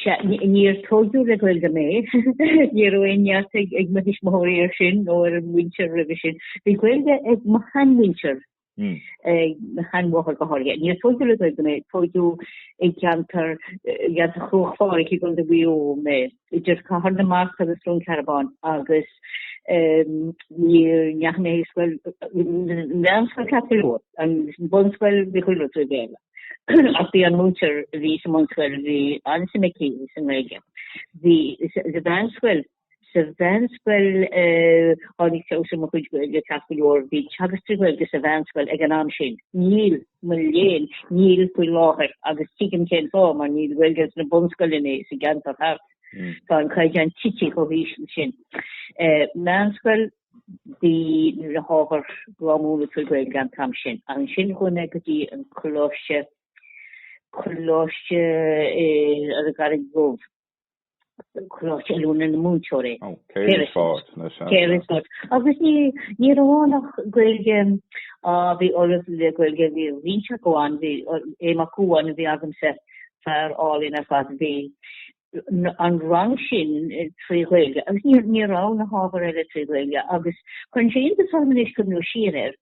Níor tóigeadh le Gaeilge mé. Ní raibh aon neart ag mo thuismitheoirí air sin nó ar an mhuintir roimhe sin. Bhí Gaeilge ag mo sheanmhuintir, ag mo sheanmháthair go háirithe. Níor tóigeadh le Gaeilge mé. Tóigeadh i gceantar Chruach Phádraig i gContae Mhaigh Eo mé, idir Cathair na Mart agus Cluain Cearbán, agus ní dheachaigh mé ar scoil, mheánscoil Chapel Road, an bunscoil, bhí chuile rud trí Bhéarla. ach bhí an múinteoir a bhí sa mbunscoil bhí an-suim aici sa nGaeilge. Bhí sa mheánscoil, sa mheánscoil tháinig feabhas ar mo chuid Gaeilge ceart go leor, bhí teagasc trí Ghaeilge sa mheánscoil ag an am sin. Níl, mo léan, níl faoi láthair agus tuigim cén fáth mar níl Gaeilge sna bunscoileanna sa gceantar thart. Tá an caighdeán tite chomh híseal sin. Meánscoil, bhí na hábhair go hiomlán trí Ghaeilge an t-am sin. Ach ansin chuaigh mé go dtí an coláiste, coláiste ar an gCarraig Dhubh, coláiste oiliúna na múinteoirí. Ó, céard is fáth na seanchas? Céard is fáth? Agus ní, ní raibh ann ach Gaeilge a bhí ollamh le Gaeilge, bhí ríseach amháin, bhí Aodh Mac Uain a bhí agamsa, fear álainn ar fad a bhí, an rang sin trí Ghaeilge agus ní raibh na hábhair eile trí Ghaeilge agus cuireann sé iontas orm anois ag breathnú siar air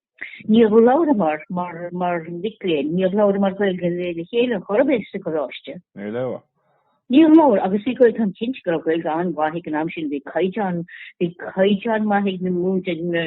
níor labhramar mar mhic léinn, níor labhramar Gaeilge le le chéile ar chor ar bith sa gcoláiste. Níor labhair. Níor labhair agus bhí Gaeilge againn, cinnte go raibh Gaeilge an-mhaith againn an am sin, bhí caighdeán maith ag na.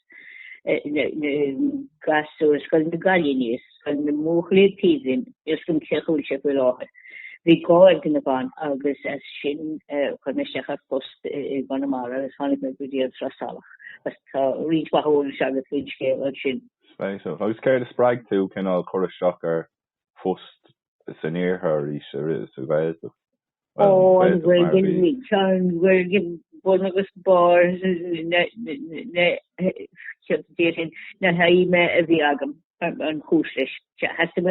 Ghaeltacht, gasúir Scoil na gCailíní, Scoil na mBuachaillí Taoibhinn, Iarthar Chéad Chúilse faoi láthair. Bhí Gearr na mBan agus as sin chuir mé isteach ar phost i gConamara agus tháinig mé go dtí an tSrath Salach. Tá roinnt mhaith eolais agat faoin scéal ansin. Spéisiúil. Agus céard a spreag tú cineál cur isteach ar phost san iarthar arís sa Ghaeltacht. Tá an Ghaeilge bun agus barr na haidhme a bhí agam. An chúis leis, sea, theastaigh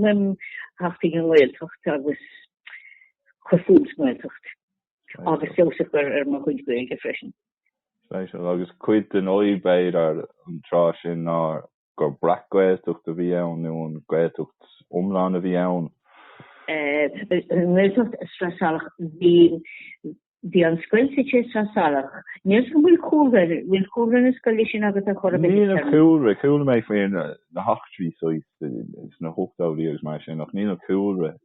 uaim theacht chuig an nGaeltacht agus cur fúm sa nGaeltacht agus feabhas a chur ar mo chuid Gaeilge freisin. Agus cuid den fhadhb, b'fhéidir, an tráth sin ná gur breac-Ghaeltacht a bhí ann nó an Ghaeltacht iomlán a bhí ann. an nGaeltacht Sraith Salach bhí bhí an scoil suite Sraith Salach. Níl an bhfuil cúlra bhfuil cúlra na scoile sin agat ar chor ar bith Níl an cúlra chuala mé faoi na heachtraí sna hochtóidí agus mar sin ach níl an cúlra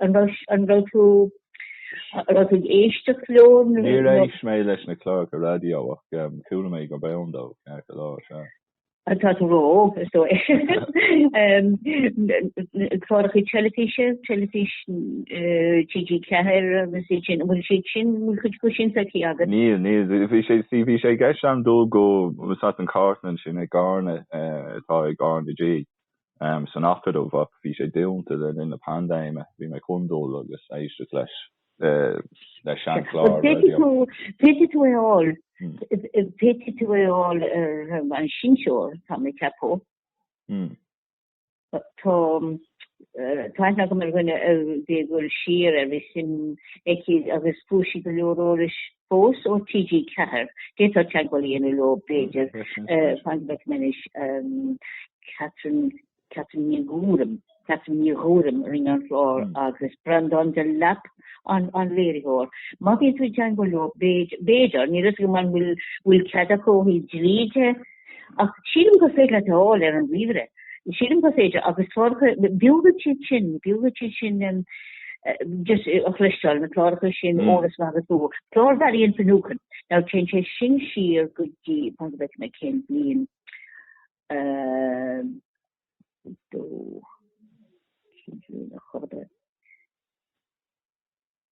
an raibh tú an raibh tú ag éisteacht leo nó? Níor éist mé leis na cláracha raidió ach chuala mé gurb ann dó ceart go leor, sea. Tá tú ró, is dóigh. Cláracha teilifíse, teilifís TG4 agus iad sin, an bhfuil siad sin, an bhfuil cuid sin feicthe agat? Níl, níl, bhí sé, sí, bhí sé i gceist agam dul go, tá fhios agat an chartlann sin ag RnaG, atá ag RnaG. san Acadamh ach bhí sé dúnta le linn na paindéime. Bhí mé chun dul agus éisteacht leis le seanchlár raidió. Féadfaidh tú é a fháil, féadfaidh tú é a fháil ar an seinnteoir, tá mé ag ceapadh. Tá aithne agam ar dhuine a bhí ag dul siar air, bhí suim aici agus fuair sí go leor eolais fós ó TG4, d'fhéadfá teagmháil a dhéanamh leo b'fhéidir, fan go bhfeicfidh mé anois, Catherine, Catherine Ní Ghuairim, Catherine Ní Ghuairim a rinne an clár agus Breandán Delap an an léiritheoir. Má bhíonn tú ag teagmháil leo b'fhéidir, níl fhios agam an bhfuil cead acu ó thaobh dlí de, Ach sílim gur féidir leat a fháil ar an ríomhaire. Sílim gur féidir agus cláracha, b'fhiú duit iad sin, b'fhiú duit iad sin just a chloisteáil, na cláracha sin óir is maith agus b'fhiú. Clár Mharian Finucane, now téann sé sin siar go dtí, fan go bhfeicfidh mé cén bhliain, ehm, dó, cén bhliain a chur ar.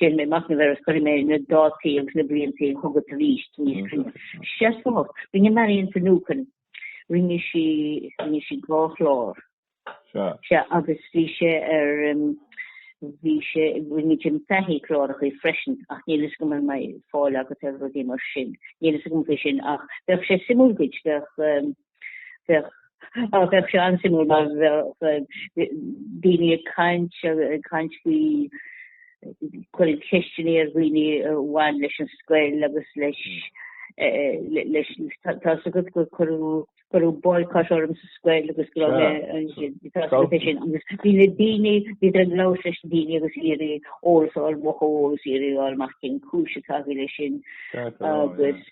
Déanfaidh mé machnamh air agus cuirfidh mé na dátaí agus na blianta chugat aríst níos cruinne. Seasmhach. Rinne Marian Finucane, rinne sí, rinne sí dhá chlár. Sea. Sea, agus bhí sé ar, bhí sé, rinne Jim Fahy cláracha freisin, ach níl fhios agam an mbeidh fáil agat ar rudaí mar sin. Níl fhios agam faoi sin, ach bheadh sé suimiúil duit, bheadh, bheadh á bheadh sé an-suimiúil mar bheadh daoine ag caint ag caint faoi cuireadh ceisteanna ar dhaoine a bhain leis an scoil agus leis leis tá fhios agat gur cuireadh cuireadh boycott orm sa scoil agus go raibh mé sin agus bhí na daoine bhí an lá leis na daoine ag iarraidh eolas a fháil amach eolas ag iarraidh fáil amach cén chúis atá leis sin agus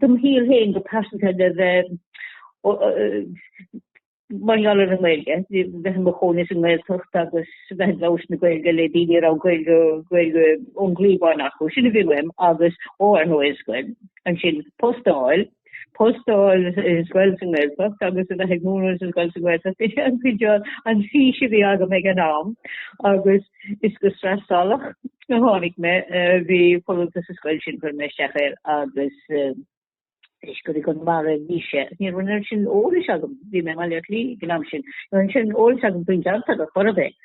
do mo shaol féin go pearsanta le bheith mar gheall ar an nGaeilge, bheith i mo chónaí sa nGaeltacht agus bheith ag labhairt na Gaeilge le daoine a raibh Gaeilge ón gcliabhán acu, sin a bhí uaim agus ó ar ndóigh an scoil, ansin post a fháil, post a fháil i scoil sa nGaeltacht agus a bheith ag múineadh sa scoil sa nGaeltacht, is é an cineál an fhís a bhí agam ag an am agus is go Sraith Salach Nuair a tháinig mé bhí folúntas sa scoil sin chuir mé isteach air agus is i gConamara a bhí sé ní raibh an oiread sin eolas agam bhí mé i mBleá Cliath an am sin ní raibh an oiread sin eolas agam faoin gceantar ar chor ar bith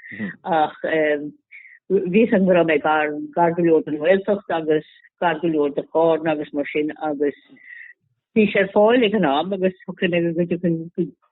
ach bhí a fhios agam go raibh mé gar gar go leor den Ghaeltacht agus gar go leor de Charna agus mar sin agus bhí sé ar fáil ag an am agus thucin go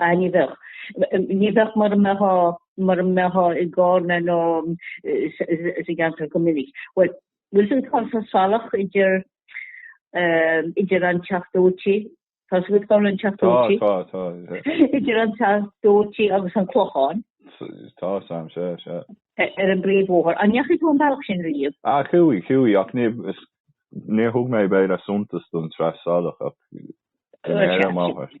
Ah, ní bheadh. Ní bheadh mura mbeadh, mura mbeifeá i gCarna nó sa gceantar go minic. Bhuel, bhfuil a fhios agat cá bhfuil Sraith Salach idir, eh, idir an Teach Dóite, tá a fhios agat cá bhfuil an Teach Dóite? Tá, tá, tá. Idir an Teach Dóite agus an Clochán. Tá a fhios agam, sea, sea. Ar an bpríomhbhóthar. An ndeachaigh tú an bealach sin riamh? Ah, chuaigh, chuaigh, ach ní, is, níor thug mé b'fhéidir suntas don tSraith Salach ach go n-éirim, áfach.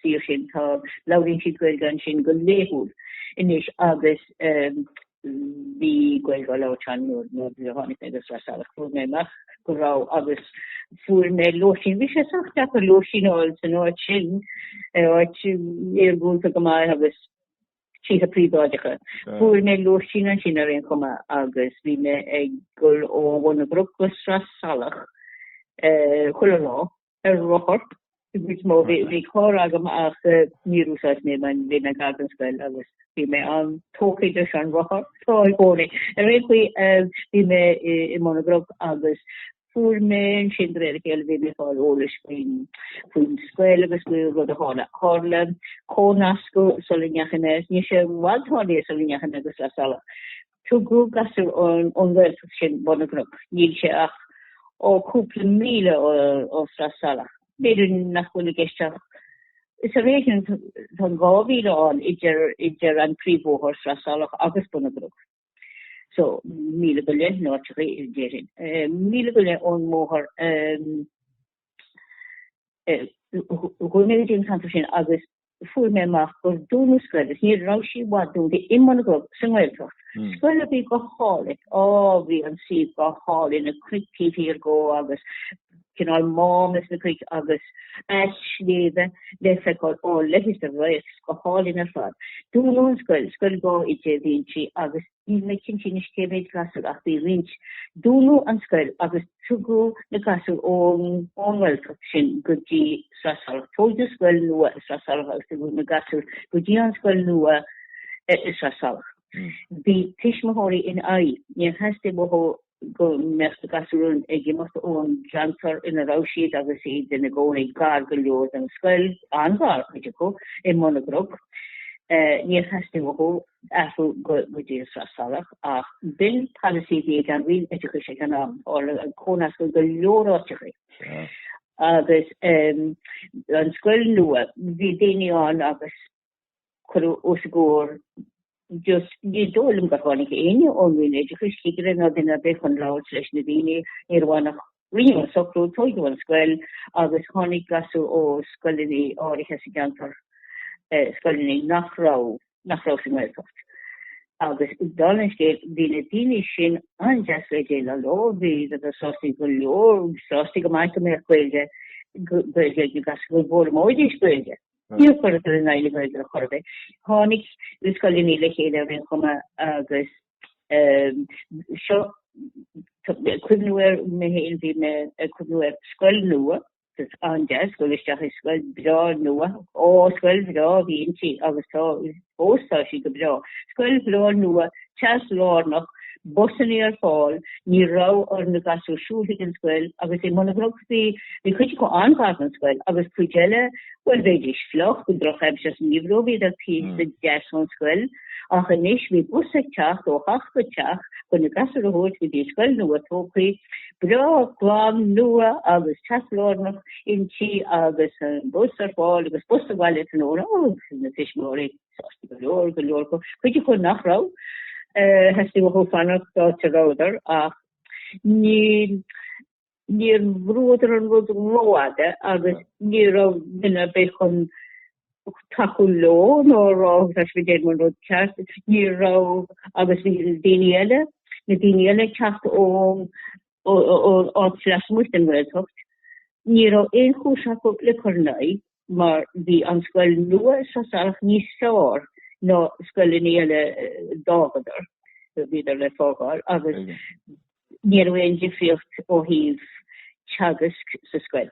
suíomh sin. Tá labhraíonn siad Gaeilge ansin go laethúil anois agus bhí Gaeilge á labhairt ann nuair a tháinig mé go Sraith Salach. Fuair mé amach go raibh agus fuair mé lóistín. Bhí sé sách deacair lóistín a fháil san áit sin, áit iargúlta go maith agus tithe príobháideacha. Fuair mé lóistín ansin ar aon chuma agus bhí mé ag dul ó Bhun na gCnoc go Sraith Salach chuile lá. ar rothar an chuid is mó. Bhí carr agam ach níor úsáid mé é mar bhí mé gar don scoil agus bhí mé an-tógtha leis an rothar tá i gcónaí. Ar aon chaoi bhí mé i mBun na gCnoc agus fuair mé ansin de réir a chéile bhí mé ag fáil eolais faoin scoil agus faoi rud a tharla. Tharla comhnascadh sula ndeachaigh mé, ní raibh sé i bhfad tarlaithe sula ndeachaigh mé go Sraith Salach. Tugadh gasúir ón nGaeltacht sin Bun na gCnoc, níl sé ach ó cúpla míle ó Sraith Salach, b'fhéidir nach bhfuil i gceist ach is ar éigean atá an dhá mhíle ann idir an príomhbhóthar, Sraith Salach, agus Bun na gCnoc. So, míle go leith, nó áit éigin, déarfainn, míle go leith ón mbóthar a rinneadh an ceantar sin agus fuair mé amach gur dúnadh an scoil agus ní raibh sí i bhfad dúnta i mBun na gCnoc sa nGaeltacht. Scoil a bhí go hálainn, á, bhí an suíomh go hálainn, na cnoic taobh thiar dhó agus cineál mám sna cnoic agus na sléibhte le feiceáil, á, leis an bhfraoch, go hálainn ar fad. Dúnadh an scoil, scoil dhá oide a bhí inti agus. Níl mé cinnte anois cé mhéid gasúr ach bhí roinnt. Dúnadh an scoil agus tugadh na gasúir ón nGaeltacht sin go dtí Sraith Salach. Tóigeadh scoil nua i Sraith Salach agus tugadh na gasúir go dtí an scoil nua i Sraith Salach. Bhí tuismitheoirí in aghaidh. Níor theastaigh uathu go mbeadh na gasúir ag imeacht ón gceantar ina raibh siad agus iad ina gcónaí gar go leor don scoil, an-ghar, cuid acu, i mBun na gCnoc. Níor theastaigh uathu athrú go dtí an Sraith Salach ach b'in polasaí a bhí ag an Roinn Oideachais ag an am, tharla an cónascadh go leor áiteacha. Agus an scoil nua, bhí daoine ann agus cuireadh os a gcomhair just ní dóigh liom gur tháinig éinne ón Roinn Oideachais, cigire ná duine ar bith chun labhairt leis na daoine, ní raibh ann ach rinneadh an socrú, tóigeadh an scoil agus tháinig gasúir ó scoileanna áirithe sa gceantar, scoileanna nach raibh, nach raibh sa nGaeltacht. Agus dála an scéil, bhí na daoine sin an-deas le déileáil leo, bhí, bhíodar sásta go leor, sásta go maith go mbeadh Gaeilge, Gaeilge ag na gasúir, go bhfoghlaimeoidís Gaeilge. Níor chuireadar in aghaidh na Gaeilge ar chor ar bith. Tháinig na scoileanna le chéile ar aon chuma agus seo ag cuimhniú ar mé féin, bhí mé ag cuimhniú ar scoil nua, an-deas dul isteach i scoil breá nua, ó scoil bhreá a bhí inti agus tá fós, tá sí go breá scoil bhreá nua teas lárnach, busanna ar fáil, ní raibh ar na gasúir siúl chuig an scoil agus i mBun na gCnoc bhí bhí cuid acu an-ghar don scoil agus cuid eile, bhuel bheidís fliuch, go drochaimsir sa ngeimhreadh, bhíodar píosa deas ón scoil ach anois bhí bus ag teacht ó theach go teach chun na gasúir a thabhairt go dtí an scoil nua tógthaí breá, glan, nua agus teas lárnach. Inti agus an bus ar fáil agus bus abhaile san uair ó na tuismitheoirí sásta go leor, go leor acu, cuid acu nach raibh, theastaigh uathu fanacht áit a rabhadar ach níl, níor bhrúadar an rud rófhada agus ní raibh duine ar bith chun tacú leo nó a rá tá sibh ag déanamh an rud ceart, ní raibh, agus bhí daoine eile, na daoine eile ag teacht ón áit lasmuigh den Ghaeltacht, ní raibh aon chúis acu le cur in aghaidh mar bhí an scoil nua sa Sraith Salach níos fearr ná na scoileanna eile a d'fhágadar, a bhíodar le fágáil, agus ní raibh aon difríocht ó thaobh teagaisc sa scoil.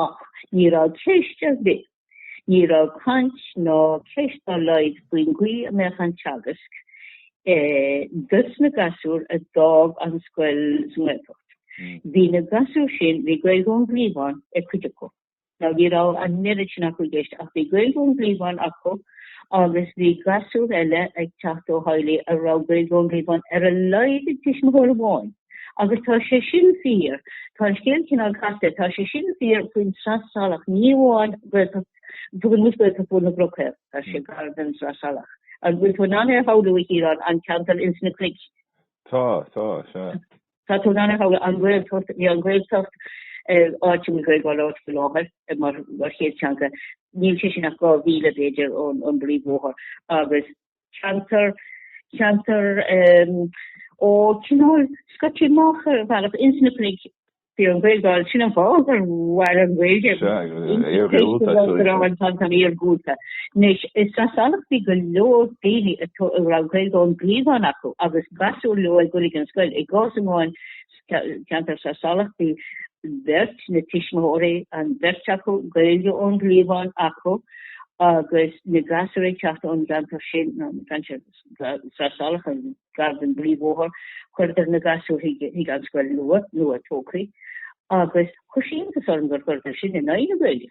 Ach ní raibh ceist ar bith, ní raibh caint ná ceist dá laghad faoin gcaoi a mbeadh an teagasc dos na gasúir a d'fhág an scoil sa nGaeltacht. Bhí na gasúir sin, bhí Gaeilge ón gcliabhán ag cuid acu. Now, ní raibh an oiread sin acu i gceist, ach bhí Gaeilge ón gcliabhán acu agus bhí gasúir eile ag teacht ó theaghlaigh a raibh Gaeilge ón gcliabhán, ar a laghad ag tuismitheoir amháin. Agus tá sé sin fíor, tá an scéal cineál casta, tá sé sin fíor faoin Srath Salach ní amháin Gaeltacht, tugann muid Gaeltacht Bhun na gCnoc, tá sé gar don Srath Salach. An bhfuil tú in ann é a shamhlú, a Chiarán, an ceantar ins na cnoic? Tá, tá, sea. Tá tú in ann é a shamhlú, an Ghaeltacht, bhí an Ghaeltacht, áit a bhfuil Gaeilge á labhairt faoi láthair, mar chéad teanga, níl sé sin ach dhá mhíle, b'fhéidir, ón bpríomhbhóthar, agus. ceantar, ceantar ó, cineál scoite amach ar bhealach insna cnoic bhí an Ghaeilge ann, sin an fáth gur mhair an Ghaeilge an-iargúlta. Anois i Srath Salach bhí go leor daoine a raibh Gaeilge ón gcliabhán acu agus gasúir leo ag dul chuig an scoil, i gcás amháin, ceantar Srath Salach, bhí beirt, na tuismitheoirí, an bheirt acu Gaeilge ón gcliabhán acu agus na gasúir ag teacht ón gceantar sin, ná an ceantar Srath Salach, an-ghar don bpríomhbhóthar, chuireadar na gasúir chuig an scoil nua, nua-tógthaí, agus chuir sé iontas orm gur chuireadar sin in aghaidh na Gaeilge.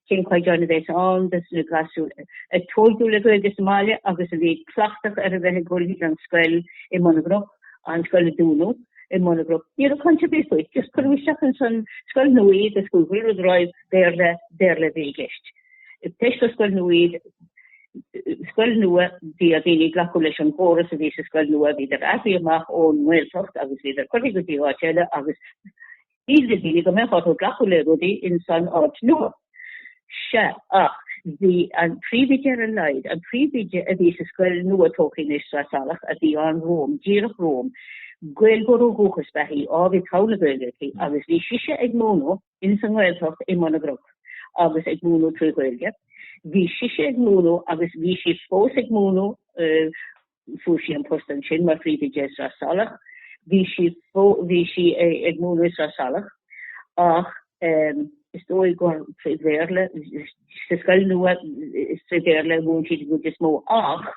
Cén caighdeán a bheas ann dos na gasúir a tógadh le Gaeilge sa mbaile agus a bhí cleachtach ar a bheith ag dul chuig an scoil i mBun na gCnoc, an scoil a dúnadh i mbun a gcnoc? Ní raibh caint ar bith faoi. Just cuireadh isteach ins an scoil nua iad agus chuaigh chuile rud ar aghaidh. Béarla, Béarla a bhí i gceist. Toisc gur scoil nua iad, scoil nua bhí ar dhaoine glacadh leis an gcóras a bhí sa scoil nua, bhíodar athraithe amach ón nGaeltacht agus bhíodar curtha go dtí áit eile agus Bhí de dhíth go mbeadh orthu glacadh le rudaí ins an áit nua. Sea, ach bhí an príomhoide ar a laghad, an príomhoide a bhí sa scoil nua-tógtha anois, Sraith Salach, a bhí ann romham, díreach romham, Gaeilgeoir ó dhúchas ba ea í, á, bhí togha na Gaeilge aici, agus bhí sise ag múineadh ins an nGaeltacht i mBun na gCnoc, agus ag múineadh trí Ghaeilge. Bhí sise ag múineadh agus bhí sí fós ag múineadh, Fuair sí an post ansin mar phríomhoide i Srath Salach. Bhí sí bhí sí ag múineadh i Srath Salach ach is dóigh gur trí Bhéarla, sa scoil nua is trí Bhéarla a mhúin sí an chuid is mó ach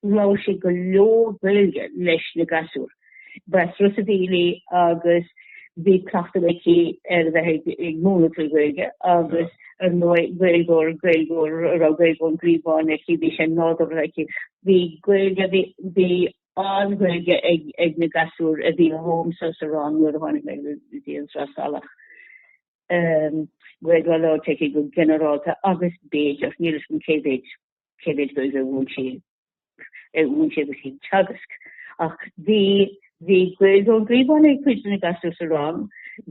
labhair sí go leor Gaeilge leis na gasúir. Breis Rusa Bheely agus bhí cleachtadh aici ar a bheith ag múineadh trí Ghaeilge agus ar ndóigh Gaeilgeoir, Gaeilgeoir a raibh Gaeilge ón gcliabhán aici, bhí sé nádúrtha aici. Bhí Gaeilge, bhí an-Ghaeilge ag na gasúir a bhí romhamsa sa rang nuair a tháinig mé go dtí an Srath Salach. Gaeilge á labhairt aici go ginearálta agus b'fhéidir, níl fhios agam cé mhéid. cé mhéid Gaeilge a mhúin sí a mhúin sí agus í ag teagasc ach bhí bhí Gaeilge ón gcliabhán ag cuid de na gasúir sa rang,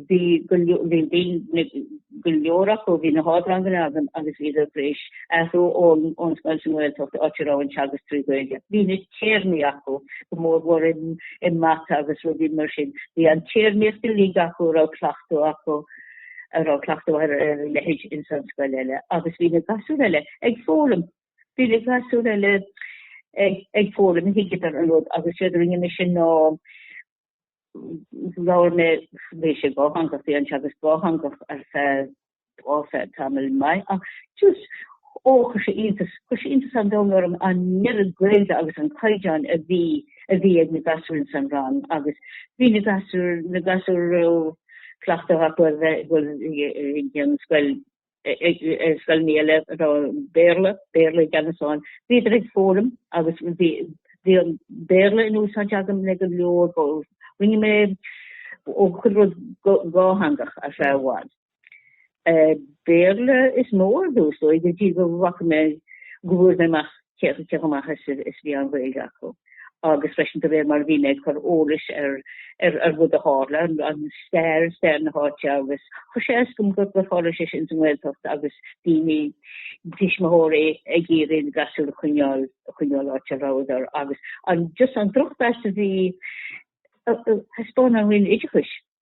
bhí go leor acu, bhí na hardranganna agam agus bhí siad tar éis athrú ón scoil sa nGaeltacht áit a raibh an teagasc trí Ghaeilge. Bhí na téarmaí acu go mór mhór i mata agus rudaí mar sin, bhí an téarmaíocht uilig acu ní raibh cleachtadh acu. a raibh cleachtadh ar a leithéid ins an scoil eile agus bhí na gasúir eile ag foghlaim. Bhí na gasúir eile ag, ag foghlaim, thuigeadar an rud agus séard a rinne mé ansin ná labhair mé, bhí sé dátheangach, bhí an teagasc dátheangach ar feadh, á, feadh tamall maith ach just, ó, chuir sé iontas, chuir sé iontas an-domhain orm an oiread Gaeilge agus an caighdeán a bhí, a bhí ag na gasúir ins an rang agus bhí na gasúir, na gasúir a raibh, cleachtadh acu a bheith ag an scoil, ar scoileanna eile a raibh Béarla, Béarla i gceannas ann. Bhíodar ag foghlaim agus bhí an Béarla in úsáid agam le go leor. Rinne mé ó chuile rud dhátheangach ar feadh i bhfad. Béarla is mó ar dtús, dóigh go dtí go bhfaca mé, go bhfuair mé amach cé chomh maith is a bhí an Ghaeilge acu. Agus freisin de réir mar a bhí mé ag cur eolais ar rud a tharla, an stair, stair na háite agus chuir sé as dom gur tharla sé sin sa nGaeltacht agus daoine, tuismitheoirí ag iarraidh a ngasúir a choinneáil, a choinneáil áit a rabhadar agus an, just an drochmheas a bhí, a thaispeáin an Roinn oideachais.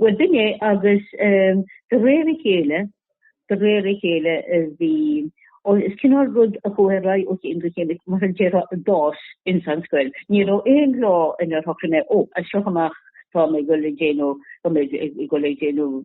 Bhuel dúinne agus de réir a chéile, de réir a chéile bhí, ó is cineál rud a chuaigh ar aghaidh ó chéim go chéim, mar a déarfá, d'fhás ins an scoil. Ní raibh aon lá inar shocraigh mé, ó, as seo amach tá mé ag dul ag déanamh, tá mé ag dul ag déanamh,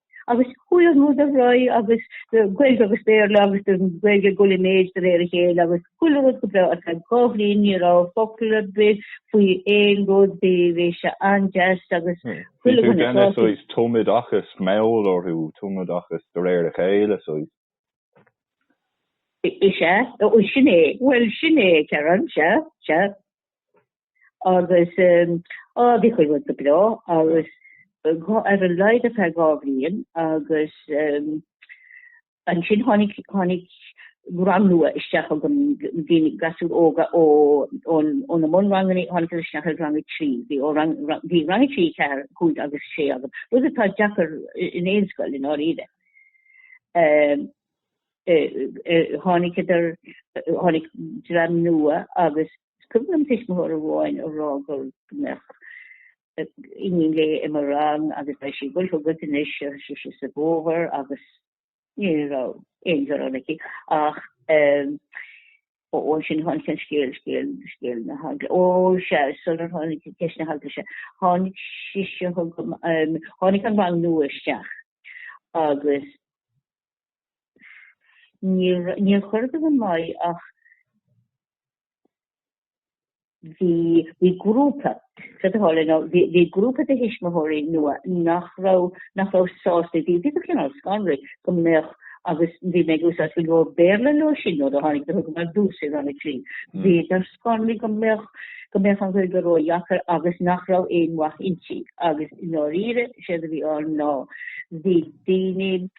agus chuaigh an rud ar aghaidh agus Gaeilge agus Béarla agus an Ghaeilge ag goil i méid de réir a chéile agus chuile rud go breá. Ar feadh dhá bhliain ní raibh focal ar bith faoi aon rud, bhí bhí sé an-deas agus chuile dhuine sásta. Bhí tú deas séimh, tumoideachas mall orthu, tumoideachas de réir a chéile séimh. Is ea, sin é, bhuel sin é, Karen, sea, sea. agus á bhí chuile rud go breá agus ar a laghad ar feadh dhá bhliain agus ansin tháinig tháinig rang nua isteach agus bhí gasúir óga ó ó na bunranganna tháinig isteach ar rang a trí bhí ó rang bhí rang a trí ceathair cúig agus sé agam rud atá deacair in aon scoil i ndáiríre tháinig idir tháinig dream nua agus Is cuimhin liom tuismitheoir amháin a rá go mbeadh iníon léi i mo rang agus beidh sí ag goil chugat anois a dúirt sí sa bhfómhar agus ní raibh aon ghearán aici ach ó ansin tháinig an scéal, scéal, scéal na heagla. Ó sea, sular tháinig ceist na heagla seo, tháinig sise chugam, tháinig an rang nua isteach agus Níor chuir go don Mhaigh ach bhí grúpa, Fios a Tháille, nó bhí grúpa de thuismitheoirí nua nach raibh sásta, bhí cineál scanraithe go mbeadh, agus bhí mé ag úsáid go leor Béarla leo sin nuair a tháinig, do thug mé duais ar an 3, bhíodar scanraithe go mbeadh go mbeadh an Ghaeilge ródheacair agus nach raibh aon mhaith inti, agus i ndáiríre, is éard a bhí ann ná bhí, daoine,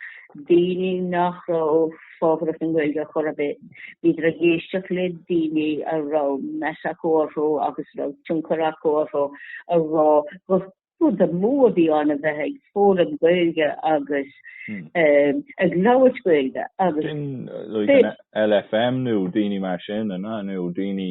daoine nach raibh fabhrach don Ghaeilge chor ar bith. Bhíodar ag éisteacht le daoine a raibh meas acu orthu agus a raibh tionchar acu orthu a rá gur rud amú a bhí ann a bheith ag foghlaim Gaeilge agus hmm. um, ag labhairt Gaeilge agus LFM nó daoine mar sin nó daoine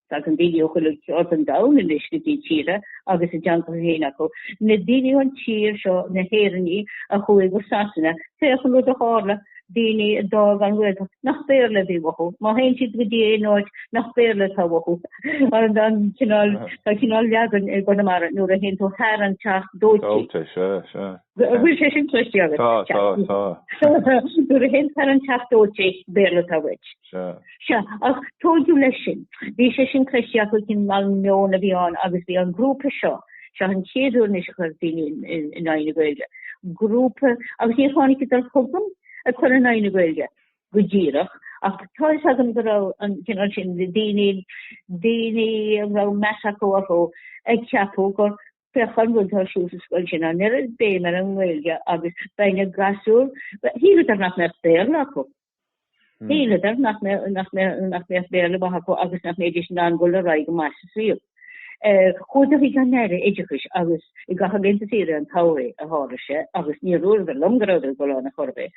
Tagann daoine ó chuile cheard den domhan anois go dtí tíortha agus a dteangacha féin acu. Na daoine ón tír seo, na hÉireannaigh a chuaigh go Sasana, féach an rud a tharla, daoine a d'fhág an Ghaeltacht, nach Béarla a bhí uathu. Má théann siad go dtí aon áit nach Béarla atá uathu, an cineál, tá cineál leagan i gConamara nuair a théann tú thar an teach dóite. Dóite, sea, sea. An bhfuil sé sin cloiste agat? Tá, tá, tá. Nuair a théann tú thar an teach dóite, Béarla atá uait. Sea. Sea, ach tóigeadh leis sin. Bhí sé sin cloiste ach an cineál meon a bhí ann agus bhí an grúpa seo, seo an chéad uair anois a chuir daoine in aghaidh na Gaeilge, grúpa, agus níor tháinigdar chugam ag cur in aghaidh na Gaeilge go díreach ach tá fhios agam go raibh an cineál sin daoine, daoine a raibh meas acu orthu ag ceapadh gur féach an rud atá ar siúl sa scoil sin, an oiread béim ar an nGaeilge agus beidh na gasúir, shíleadar nach mbeadh Béarla acu. Shíleadar nach mbeadh Béarla maith acu agus nach mbeidís in ann dul ar aghaidh go maith sa saol. Chuadar chuig an Aire Oideachais agus i gcaitheamh laethanta saoire an tsamhraidh a tharla sé agus níor dhúradar liom go rabhadar ag dul ann ar chor ar bith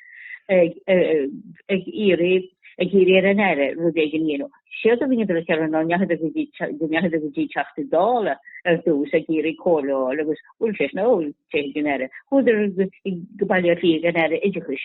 ag iarraidh ar an Aire rud éigin a dhéanamh. Séard a rinneadar a cheireadh ná go ndeachadar go dtí Teachta Dála ar dtús ag iarraidh comhairle a fháil agus dúirt sé sin, bhuel, téigh ag an Aire. Chuadar go Baile Átha Cliath ag an Aire Oideachais.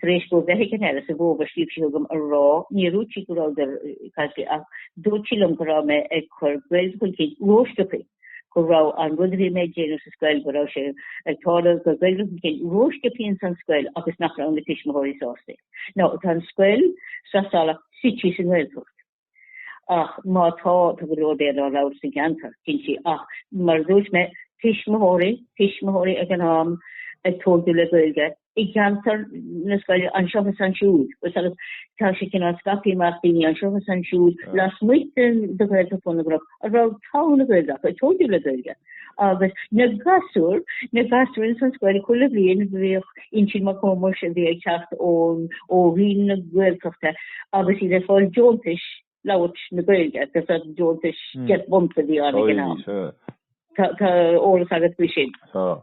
Tar éis dóibh a bheith ag an Aire sa bhfómhar, scríobh sí chugam a rá, níor dhúirt sí go rabhadar ag an Aire ach dúirt sí liom go raibh mé ag cur Gaeilge chun cinn rósciobtha, go raibh an rud a bhí mé ag déanamh sa scoil, go raibh sé ag tarlú ag cur Gaeilge chun cinn rósciobtha ins an scoil agus nach raibh na tuismitheoirí sásta. Now, tá an scoil, Sraith Salach, suite sa nGaeltacht. Ach má tá, tá go leor Béarla á labhairt sa gceantar, cinnte, ach mar a dúirt mé, tuismitheoirí, tuismitheoirí ag an am ag tóigiú le Gaeilge i gceantar na scoile anseo is ansiúd, agus tá sé cineál scaipthe amach daoine anseo is ansiúd lasmuigh de Ghaeltacht Bhun na gCnoc. a raibh togha na Gaeilge acu, ag tóigiú le Gaeilge, agus na gasúir, na gasúir ins an scoil chuile bhliain bhíodh Uinseann Mac Thómais a bhí ag teacht ón ó Roinn na Gaeltachta agus iad ag fáil deontas labhairt na Gaeilge, agus an deontas deich bpunt a bhí ann ag an am. Tá eolas agat faoi sin. Tá.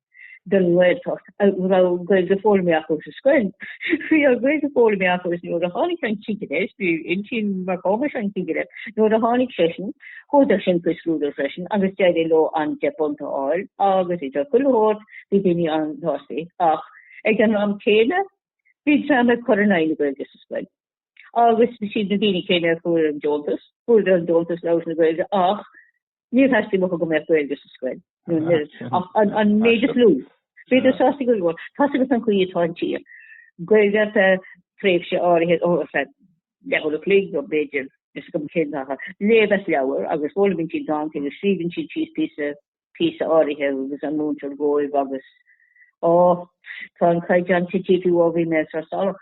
den Ghaeltacht a raibh Gaeilge foghlamtha acu sa scoil. Bhí an Ghaeilge foghlamtha acu is nuair a tháinig an cigire, is b'é Uinseann Mac Thómais an cigire, nuair a tháinig seisean, chuadar sin chuig scrúdú freisin agus d'éirigh leo an deich bpunt a fháil agus idir chuile shórt bhí daoine an-tsástaí ach ag an am céanna bhí dream ag cur in aghaidh na Gaeilge sa scoil agus siad na daoine céanna a fuair an deontas, fuair an deontas labhairt na Gaeilge ach Níor theastaigh uathu go mbeadh Gaeilge sa scoil nó an oiread ach an méid is lú. Bhíodar sásta go leor. Tá's agat an chaoi atá an tír. Gaeilge ar feadh tréimhse áirithe, ar feadh leathuair a chloig nó b'fhéidir, níl a fhios agam cén t-achar, léamh leabhar agus foghlaimíonn siad dánta agus scríobhann siad síos píosa, píosa áirithe a thugas an múinteoir dhóibh agus, Á, tá an caighdeán tití fiú ó bhí mé i Sraith Salach.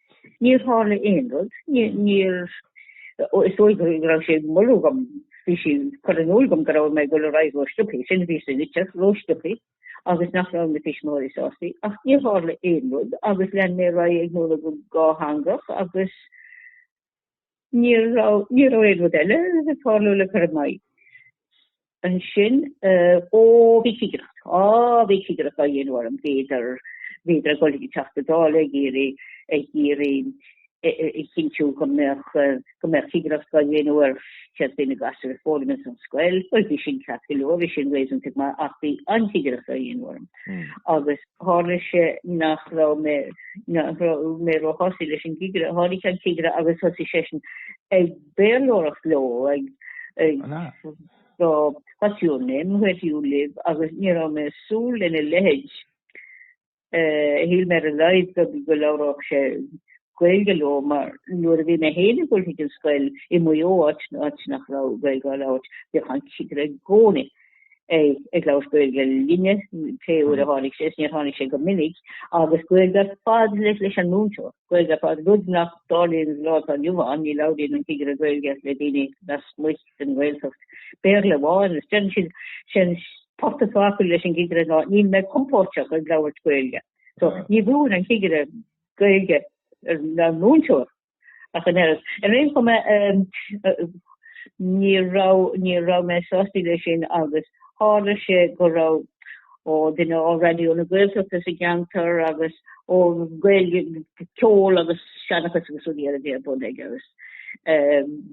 Níor tharla aon rud. Níor, is dóigh go raibh sé ag moladh dhom, bhí sí ag cur in iúl dhom go raibh mé ag dul ar aghaidh ró-sciobthaí, sin a bhí sa litir, ró-sciobthaí, agus nach raibh na tuismitheoirí sástaí, ach níor tharla aon rud, agus lean mé ar aghaidh ag múineadh go dátheangach agus Ní raibh, ní raibh aon rud eile ag tarlú le cur i m'aghaidh ansin. Ó, bhí cigireacht, á, bhí cigireacht á dhéanamh orm, bhíodar, bhíodar ag dul chuig an Teachta Dála ag iarraidh, ag iarraidh a chinntiú go mbeadh, go mbeadh cigireacht á dhéanamh ar céard a bhí na gasúir a fhoghlaim ins an scoil. Bhuel, bhí sin ceart go leor, bhí sin réasúnta go maith ach bhí an chigireacht á dhéanamh orm. Agus. tharla sé nach raibh mé, nach raibh mé róshásta leis an gcigire. Tháinig an cigire agus thosaigh seisean ag Béarlóireacht leo, ag, ag, An ea? so, what's your name, where do you live, agus ní raibh mé ag súil lena leithéid. Uh, Shíl mé ar a laghad go go labhródh sé Gaeilge leo mar nuair a bhí mé féin ag dul thríd an scoil i Maigh Eo áit áit nach rabh Gaeilge á labhairt bhíodh an cigire i gcónaí ag labhairt Gaeilge linne pé uair a tháinig sé is níor tháinig sé go minic agus Gaeilge ar fad leis leis an múinteoir, Gaeilge ar fad, rud nach dtarlaíonn an lá atá inniu ann, ní labhraíonn an cigire Gaeilge le daoine lasmuich den Ghaeltacht, Béarla amháin agus déanann siad sin portach fágtha leis an gcigire ná níl mé compóirteach ag labhairt Gaeilge so ní bhfuair an cigire Gaeilge ag an múinteoir ach an oiread. Ar aon chuma ní raibh, ní raibh mé sástaí leis sin agus tharla sé go raibh, ó, duine ó Raidió na Gaeltachta sa gceantar agus ó Gaeilge, ceol agus seanchas agus rudaí eile a bhí ar bun aige agus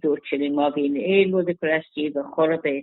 dúirt sé linn má bhíonn aon rud ag cur as daoibh i do chorp é,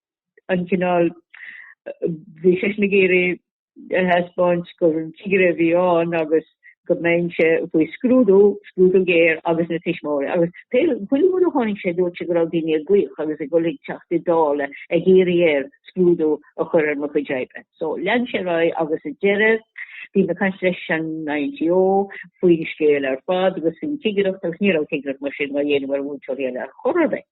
an cineál bhí seisean ag iarraidh a thaispeáint gur cigire a bhí ann agus go mbeinnse faoi scrúdú, scrúdú géar agus na tuismitheoirí. Agus bhuel chuile uair a tháinig sé dúirt sé go raibh daoine ag glaoch agus ag dul ag Teachta Dála ag iarraidh air scrúdú a chur ar mo chuid oibre. So lean sé ar aghaidh agus sa deireadh bhí mé ag caint leis an INTO faoin scéal ar fad agus faoin chigireacht agus ní raibh cigireacht mar sin á dhéanamh ar mhúinteoirí eile ar chor ar bith.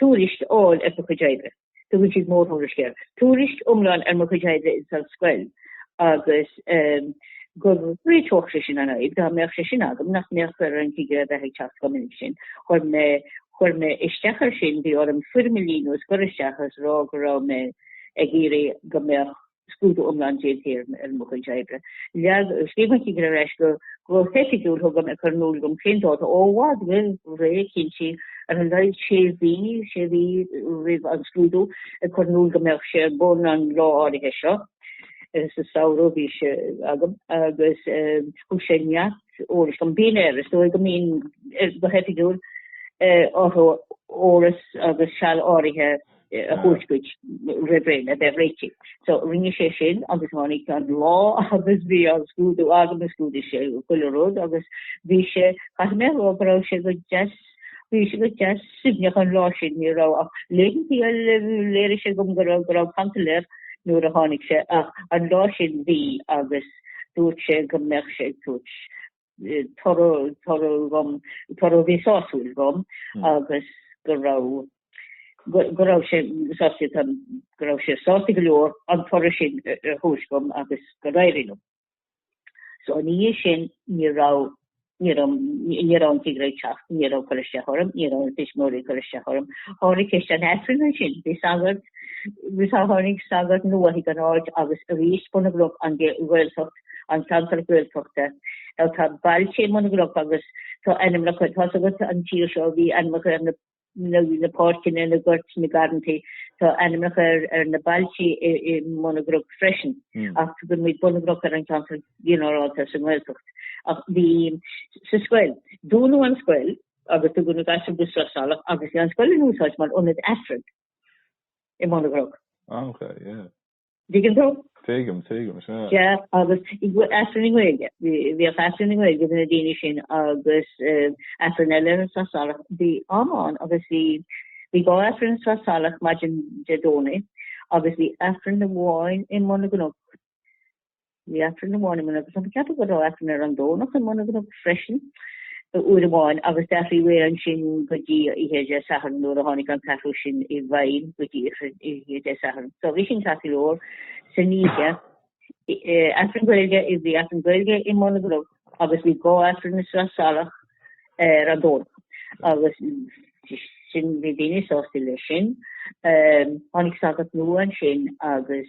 tuairisc a fháil ar mo chuid oibre tugann siad mórthuairisc air, tuairisc iomlán ar mo chuid oibre ins an scoil agus go réiteodh sé sin an fhadhb dá mbeadh sé sin agam nach mbeadh ar an gcigire a bheith ag teacht chomh minic sin. Chuir mé chuir mé isteach air sin, bhí orm foirm a líonadh is a chur isteach agus rá go raibh mé ag iarraidh go mbeadh scrúdú iomlán déanta ar mo chuid oibre. Agus scríobh an cigire ar ais go hoifigiúil chugam ag cur in iúl dom cén dáta ó i bhfad roimh ré cinntí ar a laghad sé mhí, sé mhí, roimh an scrúdú, ag cur in iúl go mbeadh sé ar bun an lá áirithe seo, sa samhradh a bhí sé agam, agus thug sé neart eolais dom. Bíonn air, is dóigh go mbíonn air go hoifigiúil, orthu eolas agus seal áirithe. a thabhairt duit roimh ré le bheith réitithe. So rinne sé sin agus tháinig an lá agus bhí an scrúdú agam, scrúdaigh sé chuile rud agus bhí sé, caithfidh mé a rá go raibh sé go deas, bhí sé go deas suaimhneach an lá sin, ní raibh ach laethantaí a léirigh sé dhom go raibh, go raibh cantal air nuair a tháinig sé ach an lá sin bhí agus dúirt sé go mbeadh sé ag tabhairt toradh, toradh dhom, toradh a bhí sásúil dhom agus go raibh, go raibh sé sásta tá, go raibh sé sásta go leor an toradh sin a thabhairt dhom agus gur éirigh liom. So ina dhiaidh sin ní raibh, ní raibh, ní raibh an cigire ag teacht, ní raibh cur isteach orm, ní raibh na tuismitheoirí ag cur isteach orm. Tháinig ceist an Aifrinn ansin, bhí sagart, tháinig sagart nua chuig an áit agus arís Bun na gCnoc an Ghaeltacht, an ceantar Gaeltachta, nó tá bailte i mBun na gCnoc agus tá ainmneacha tá a fhios agat an tír seo, bhí ainmneacha ar na páirceanna na goirt na garrantaí, tá ainmneacha ar na bailte i mBun na gCnoc freisin, ach glaonn muid Bun na gCnoc ar an gceantar ginearálta sa nGaeltacht. Ach bhí sa scoil, dúnadh an scoil agus tugadh na gasúir go Sraith Salach agus bhí an scoil in úsáid mar ionad aifrinn i mBun na gCnoc. Ah ok, yeah. Dtuigeann tú? Tuigim, tuigim, sea. Sea, agus aifreann i nGaeilge. Bhíodh aifreann i nGaeilge do na daoine sin agus aifreann eile ar an Srath Salach. Bhí am ann agus bhí bhí dhá aifreann ar an Srath Salach maidin Dé Domhnaigh agus bhí aifreann amháin i mBun na gCnoc. Bhí aifreann amháin i mBun na gCnoc, ceapaim go raibh aifreann ar an Domhnach i mBun na gCnoc freisin, uair amháin agus d'athraigh muid ansin go dtí oíche Dé Sathairn nuair a tháinig an t-athrú sin i bhfeidhm go dtí oíche Dé Sathairn. So bhí sin ceart go leor san oíche aifreann Gaeilge is bhí aifreann Gaeilge i mBun na gCnoc agus bhí dhá aifreann ar an Srath Salach ar an Domhnach agus sin bhí daoine sásta leis sin. Tháinig sagart nua ansin agus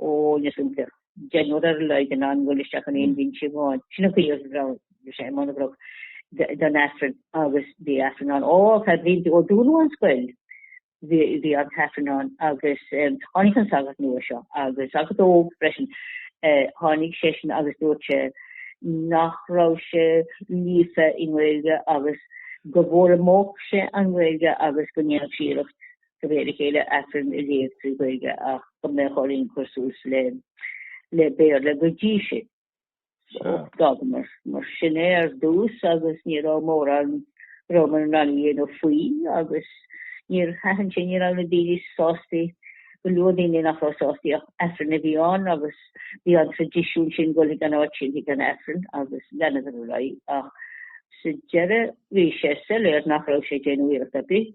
ó níl a fhios agam, deichniúr ar a laghad in ann dul isteach in aon bhinse amháin. Sin an chaoi a raibh, bhí sé i mBun na gCnoc don Aifreann agus bhí Aifreann ann. Ar feadh blianta ó dúnadh an scoil bhí an tAifreann ann agus tháinig an sagart nua seo, agus sagart óg freisin, tháinig seisean agus dúirt sé nach raibh sé líofa i nGaeilge agus go bhfoghlaimeodh sé an Ghaeilge agus go ndéanfadh sé iarracht de réir a chéile, aifreann a léamh trí Ghaeilge ach go mbeadh orainn cur suas le Béarla go dtí sin. D'fhágamar mar sin é ar dtús agus ní raibh mórán a rabhamar in ann a dhéanamh faoi agus níor thaitin sin, ní raibh na daoine sásta, go leor daoine nach raibh sásta ach aifreann a bhí ann agus bhí an traidisiún sin dhul chuig an áit sin, chuig an aifreann agus leanadar ar aghaidh ach sa deireadh bhí sé soiléir nach raibh sé ag déanamh iarracht ar bith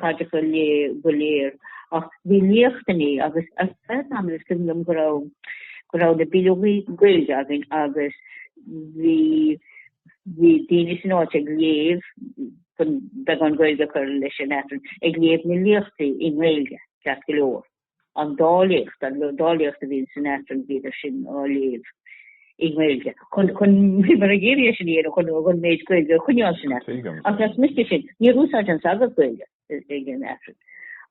Tada go léir, go léir, ach bhí liachtannaí agus ar feadh am is cuimhin liom go raibh, go raibh na bileogaí Gaeilge againn agus bhí, bhí daoine san áit ag léamh, chun beagán Gaeilge a chur leis an Aifreann, ag léamh na liachtaí i nGaeilge, ceart go leor. an dá liacht, an dá liacht a bhíonn san Aifreann bhíodar sin á léamh i nGaeilge, chun, chun, bhíomar ag iarraidh é sin a dhéanamh chun an méid Gaeilge a choinneáil san Aifreann. Tuigim. Ach lasmuigh de sin, níor úsáid an sagart Gaeilge ag an Aifreann.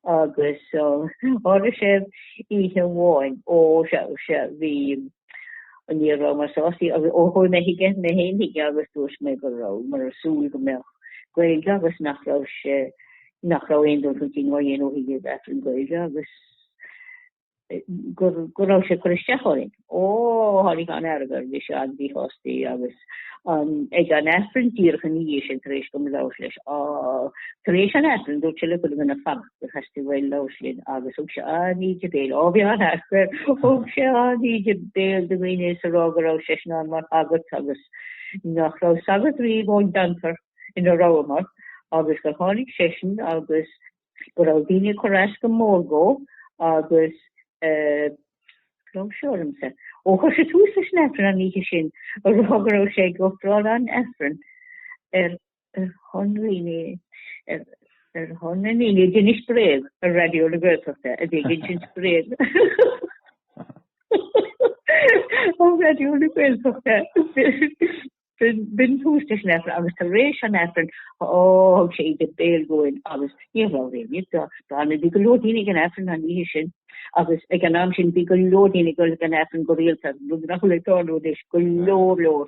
Agus, tharla sé oíche amháin ó, sea, sea, bhí, An ní rabhamar sástaí agus ó chuaigh mé chuige mé féin chuige agus dúirt mé go rabhamar ag súil go mbeadh Gaeilge agus nach raibh sé nach raibh aon dul chun cinn á dhéanamh chuig Aifreann Gaeilge agus gur go raibh sé ag cur isteach orainn. Ó tháinig an-fhearg air bhí sé an-mhíshástaí agus an ag an Aifreann díreach ina dhiaidh sin tar éis dom labhairt leis á tar éis an Aifrinn dúirt sé le chuile dhuine fanacht. go Chastille Bhuel lá sin agus thug sé an-íde béil á bhí an-fhearg air thug sé an-íde béil do dhaoine is a rá go raibh seisean ann mar shagart agus nach raibh sagart riamh ón gceantar ina rabhamar agus gur tháinig seisean agus go raibh daoine ag cur as go mór dhó agus eh, raibh sé ormsa. Ó chuir sé tús leis an Aifreann an oíche sin a rá go raibh sé ag ofráil an Aifrinn ar ar shon na ndaoine a d'inis bréag ar Raidió na Gaeltachta a bhí ag insint bréag ar Raidió na Gaeltachta b'in tús leis an Aifreann agus tar éis an Aifrinn ó thug sé íde béil dhúinn agus ní raibh aon ní do bhí go leor daoine ag an Aifreann an oíche sin agus ag an am sin bhí go leor daoine ag dul ag an Aifreann go rialta nach bhfuil ag dul anois go leor leor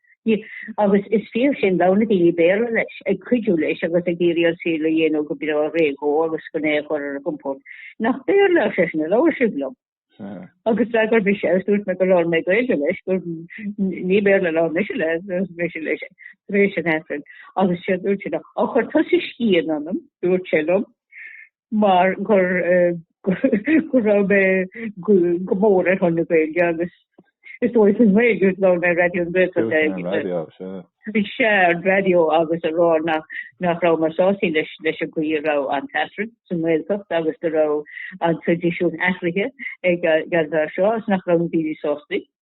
agus is fíor sin, labhair na daoine Béarla leis, ag cuidiú leis agus ag iarraidh an saol a dhéanamh go breá réidh dhó agus gan é a chur ar a gcompord. Nach Béarla, ar seisean, a labhair sibh liom? Agus d'fhreagair mise é, dúirt mé go labhair mé Gaeilge leis, gur ní Béarla a labhair mise le, labhair mise leis tar éis an Aifrinn. Agus séard a dúirt sé, á chuir tusa scian ionam, dúirt sé liom, mar gur gur raibh mé go mór ar shon na Gaeilge agus is dóigh faoin nGaeilge a labhair mé ar Raidió na Gaeltachta a bhí sé ar an raidió agus a rá nach nach raibh mé sásta leis leis an gcaoi a raibh an tAifreann sa nGaeltacht agus go raibh an traidisiún athraithe ag an bhfear seo agus nach raibh na daoine sásta.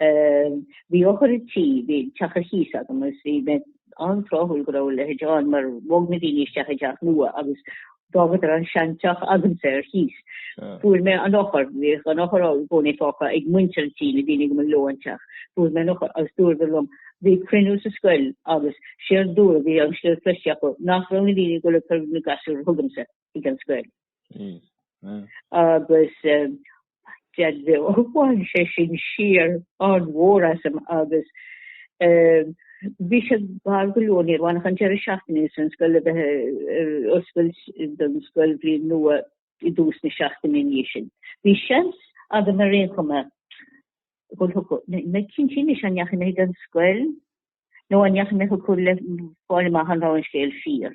Bhí eochair an tí, bhí teach ar chíos agam agus bhí mé an-tráthúil go raibh a leithéid ann mar bhog na daoine isteach i dteach nua agus d'fhágadar an seanteach agamsa ar chíos. Fuair mé an eochair, bhíodh an eochair i gcónaí fágtha ag muintir an tí, na daoine go mba leo an teach. Fuair mé an eochair agus dúradar liom, bhí cruinniú sa scoil agus séard a dúradh, bhí an scéal cloiste acu, nach raibh na daoine ag dul ag cur na gasúir chugamsa. ag an scoil. agus bhain sé sin siar an-mhór asam agus bhí sé gar go leor ní raibh ann ach an deireadh seachtaine sin an scoil a bheith ag oscailt don scoilbhliain nua i dtús na seachtaine ina dhiaidh sin. Bhí seans agam ar aon chuma níl mé cinnte anois an ndeachaigh mé ag an scoil nó an ndeachaigh mé chucu le fáil amach an raibh an scéal fíor.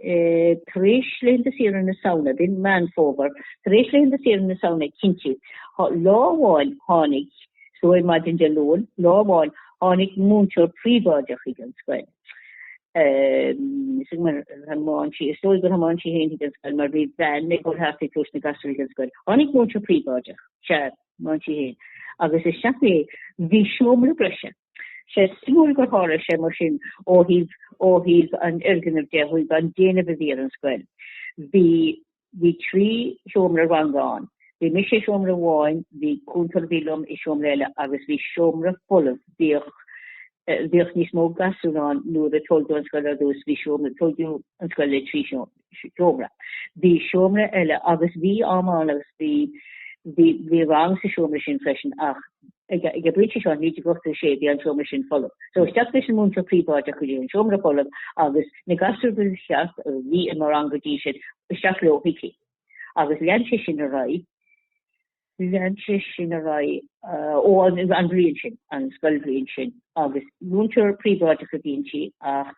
tar éis laethanta saoire na Samhna, b'in Meán Fómhair, tar éis laethanta saoire na Samhna cinnte, lá amháin tháinig, is dóigh maidin Dé Luain, lá amháin tháinig múinteoir príobháideach chuig an scoil. is dóigh gur tháinig sí féin chuig an scoil mar bhí veain ag dul thart ag tabhairt na gasúir chuig an scoil. Tháinig múinteoir príobháideach, sea, tháinig sí féin. Agus isteach mé, bhí seomra breise. Tá sé suimiúil gur tharla sé mar sin ó thaobh ó thaobh an fhoirgnimh de chuig an déanamh a bhí ar an scoil. Bhí bhí trí sheomra ranga ann. Bhí mise i seomra amháin, bhí cúntóir a bhí liom i seomra eile agus bhí seomra folamh. Bhíodh bhíodh níos mó gasúr ann nuair a tóigeadh an scoil ar dtús. Bhí seomra tóigeadh an scoil le trí seomra. seomra. Bhí seomra eile agus bhí am ann agus bhí, bhí, bhí rang sa seomra sin freisin ach ag, ag an bpointe seo, 1986, bhí an seomra sin folamh. So isteach leis an múinteoir príobháideach go dtí an seomra folamh agus na gasúir go ceart a bhí i mo rang go dtí sin, isteach leo chuici. Agus lean sé sin ar aghaidh, lean sé sin ar aghaidh ó an an bhliain sin, an scoilbhliain sin agus múinteoir príobháideach a bhí inti ach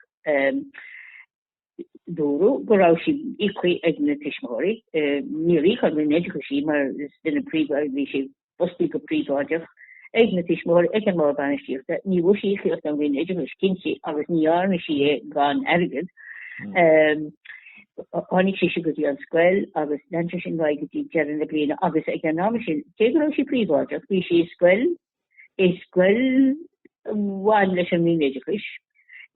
Dúradh go raibh sí íoctha ag na tuismitheoirí. Níor íoc an Roinn Oideachais í mar is duine príobháideach, bhí sí fostaithe go príobháideach ag na tuismitheoirí, ag an mBord Bainistíochta. Ní bhfuair sí íocaíocht ón Roinn Oideachais, cinnte, agus ní dhearna sí é gan airgead. Tháinig sise go dtí an scoil agus lean sé sin uaidh go dtí deireadh na bliana agus ag an am sin, cé go raibh sí príobháideach, bhí sí i scoil i scoil a bhain leis an Roinn Oideachais,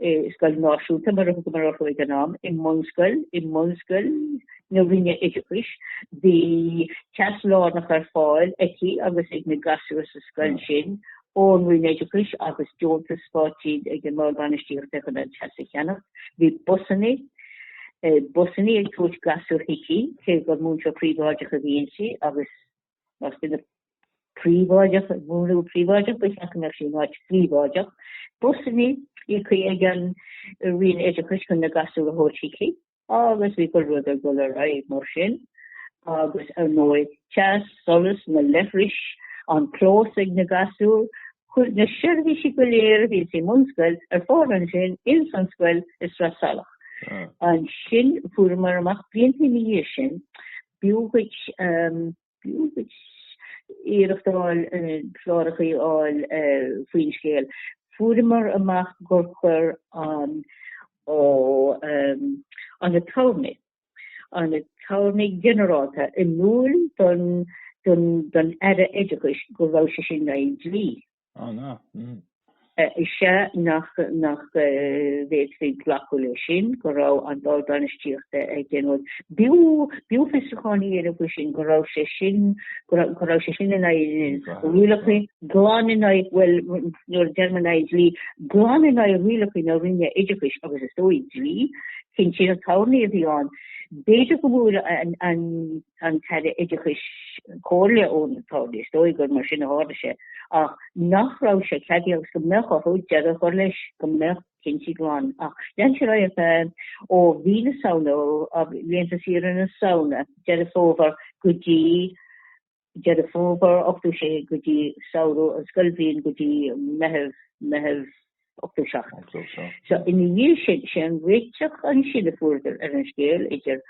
i scoil náisiúnta mar a thugamar orthu ag an am, i mbunscoil, i mbunscoil na Roinne Oideachais, bhí teas lárnach ar fáil aici agus ag na gasúir sa scoil sin ón Roinn Oideachais agus deontas stáit faighte ag an Bord Bainistíochta chun an teas a cheannacht. Bhí busanna, busanna ag tabhairt gasúir chuici cé gur múinteoir príobháideach a bhí inti agus Más duine príobháideach ag múineadh príobháideach, ba cheart go mbeadh sí in áit phríobháideach. Busanna, íoctha ag an Roinn Oideachais chun na gasúir a thabhairt chuici agus bhí gach rud ag dul ar aghaidh mar sin. Agus ar ndóigh, teas, solas, na leithris, an clós ag na gasúir, fuair na seirbhísí go léir a bhí sa mbunscoil ar fáil ansin ins an scoil i Srath Salach. Ansin, fuaireamar amach blianta ina dhiaidh sin B'fhiú duit iarracht a fháil cláracha a fháil faoin scéal. Fuaireamar amach gur chuir an t-aturnae, an t-aturnae ginearálta, in iúl don Aire Oideachais go raibh sé sin in aghaidh an dlí. Is ea nach bhféadfaí glacadh leis sin, go raibh an Bord Bainistíochta ag déanamh breis fiosrúcháin a dhéanamh faoi sin, go raibh sé sin in aghaidh rialacha, glan in aghaidh, bhuel, nuair a deirim in aghaidh dlí, glan in aghaidh rialacha na Roinne Oideachais agus is dóigh, dlí, cinn sin an Aturnae a bhí ann. B'fhéidir go bhfuair an. an tAire Oideachais comhairle ón Ard, is dóigh gur mar sin a tharla sé, ach nach raibh sé ceadaithe agus go mbeadh orthu deireadh a chur leis go mbeadh cinnte glan. Ach lean sé air ó mhí na Samhna, ó laethanta saoire na Samhna, Deireadh Fómhair, go dtí Deireadh Fómhair 86 go dtí samhradh an scoilbhliain, go dtí Meitheamh, Meitheamh. 87. Ina dhiaidh sin, sé an réiteach ansin a fuaireadar ar an scéal idir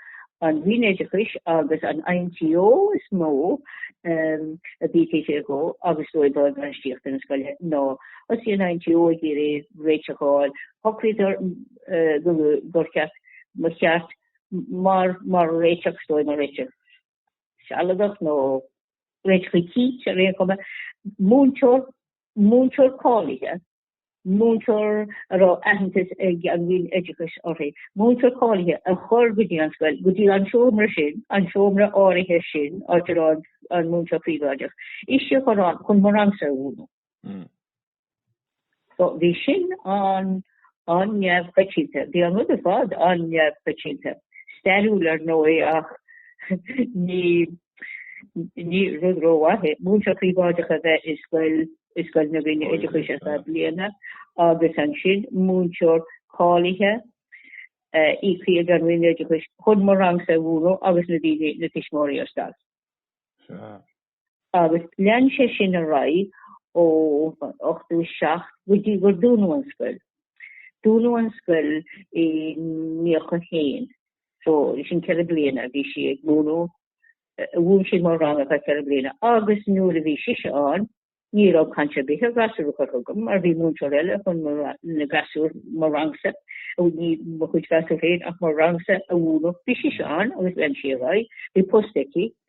an Roinn Oideachais agus an INTO is mó a bhí ag plé leo agus Bord Bainistíochta na scoile nó thosaigh an INTO ag iarraidh réiteach a fháil, shocraíodar gur cheart ba cheart mar réiteach nó mar réiteach sealadach nó réiteach éicint ar aon chuma, múinteoir múinteoir cáilithe, múinteoir a raibh aitheantas ag an Roinn Oideachais uirthi, múinteoir cáilithe a chur go dtí an scoil, go dtí an seomra sin, an seomra áirithe sin, áit a raibh an múinteoir príobháideach, ise chun an chun mo rangsa a mhúnadh. So bhí sin an an neamhchoitianta. Bhí an rud ar fad an-neamhchoitianta, stairiúil ar ndóigh ach ní, ní rud rómhaith é múinteoir príobháideach a bheith i scoil, i scoil na Roinne Oideachais ar feadh bliana agus ansin múinteoir cáilithe, íoctha ag an Roinn Oideachais chun mo rangsa a mhúnadh agus na daoine, na tuismitheoirí ar stailc. agus lean sé sin ar aghaidh ó 87 go dtí gur dúnadh an scoil. Dúnadh an scoil i 91, so sin ceithre bliana a bhí sí ag múnadh, mhúin sí mo ranganna ceithre bliana agus nuair a bhí sise ann, ní raibh caint ar bith ar gasúir a chur chugam mar bhí múinteoir eile chun na gasúir mo rangsa a ní mo chuid gasúir féin ach mo rangsa a mhúnadh. Bhí sise ann agus lean sí ar aghaidh, bhí post aici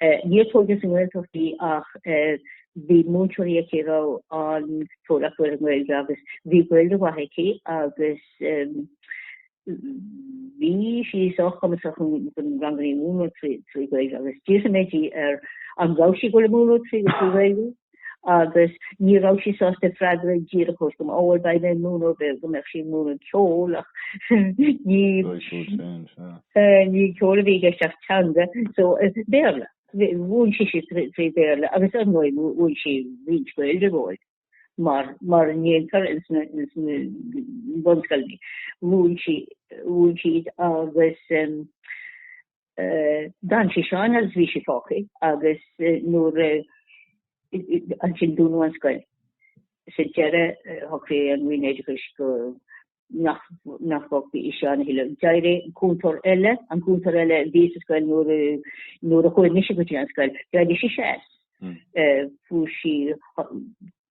Níor tógadh sa nGaeltacht í ach bhí múinteoireacht aici a raibh an-eolas ar an nGaeilge agus bhí Gaeilge mhaith aici agus bhí sí sách cumasach chun ranganna a mhúnadh trí Ghaeilge agus d'fhiafraigh mé di ar an raibh sí ag goil a múnadh trí Ghaeilge agus ní raibh sí sásta freagra díreach a thabhairt dhom mbeidh mé ag múineadh ar bith go mbeadh sí ag múineadh ceoil ach ní ní ceol a bhí i gceist ach teanga so Béarla. Mhúin sí sí trí Bhéarla agus ar ndóigh mhúin sí roinnt Gaeilge dhóibh mar mar a ndéantar ins na ins na bunscoileanna. Mhúin sí mhúin siad agus D'fhan sise ann is bhí sí fágtha agus nuair ansin dúnadh an scoil. Sa deireadh shocraigh an Roinn Oideachais go nach bhfágfaí ise ann a thuilleadh. D'éirigh cúntóir eile, an cúntóir eile a bhí sa scoil nuair a chuaigh mise go dtí an scoil, d'éirigh sise as. Fuair sí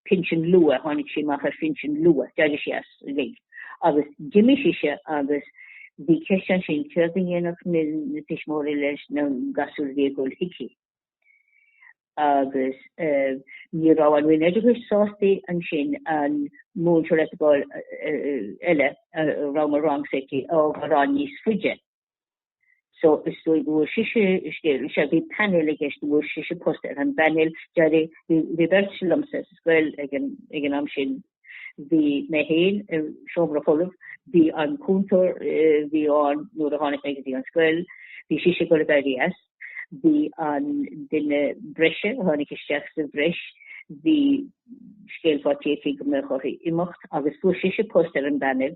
pinsean luath, tháinig sí amach ar phinsean luath, d'éirigh sí as uilig agus d'imigh sise agus bhí ceist ansin céard a dhéanfadh na tuismitheoirí leis na gasúir a bhí ag dul chuici. Agus ní raibh an Roinn Oideachais sásta í ansin an múinteoir áitiúil eile a raibh mo rangsa aici a fhágáil níos faide. So is dóigh go bhfuair sise, bhí painéal i gceist, go bhfuair sise post ar an bpainéal d'éirigh, bhí beirt liomsa sa scoil ag an am sin, bhí mé féin i seomra folamh, bhí an cúntóir a bhí ann nuair a tháinig mé go dtí an scoil, bhí sise ag goil ag éirí as, bhí an duine breise a tháinig isteach sa bhreis, bhí sí ag éirí faiteach go mbeadh uirthi imeacht agus fuair sise post ar an bpainéil.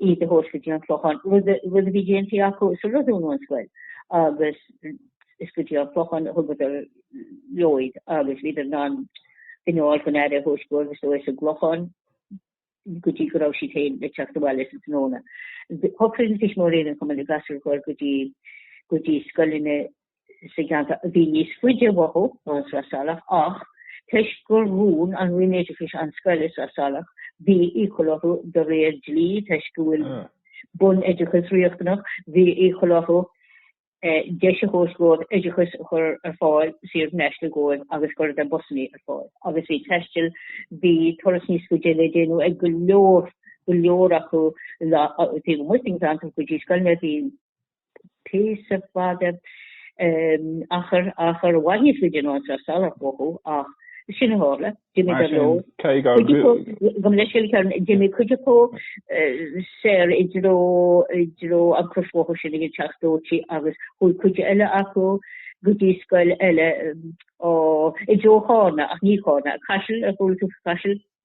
iad a thabhairt go dtí an Clochán, rud a rud a bhí déanta acu sular dúnadh an scoil agus is go dtí an Clochán a thugadar leo iad agus bhíodar in ann duine a fháil chun aire a thabhairt dóibh is dóigh sa gClochán go dtí go raibh siad féin le teacht abhaile sa tráthnóna. Shocraigh na tuismitheoirí roinnt acu na gasúir a chur go dtí go dtí scoileanna sa gceantar a bhí níos faide uathu ón Sraith Salach ach, toisc gur dhún an Roinn Oideachais an scoil i Sraith Salach, bhí iachall orthu, de réir dlí, toisc go bhfuil bunoideachas riachtanach, bhí iachall orthu deis a thabhairt dhóibh oideachas a chur ar fáil saor in aisce dhóibh agus cuireadh na busannaí ar fáil agus bhí taisteal, bhí turas níos faide le déanamh ag go leor, go leor acu taobh amuigh den cheantar go dtí scoileanna a bhí píosa fada achar maith níos faide ná an Sraith Salach uathu ach sin a tharla. D'imigh go leor, d'imigh cuid acu soir i dtreo i dtreo an chrosbhóthair sin ag an Teach Dóite agus chuaigh cuid eile acu go dtí scoil eile i dtreo Chárna ach ní Cárna, Caiseal, ar chuala tú faoi Chaiseal?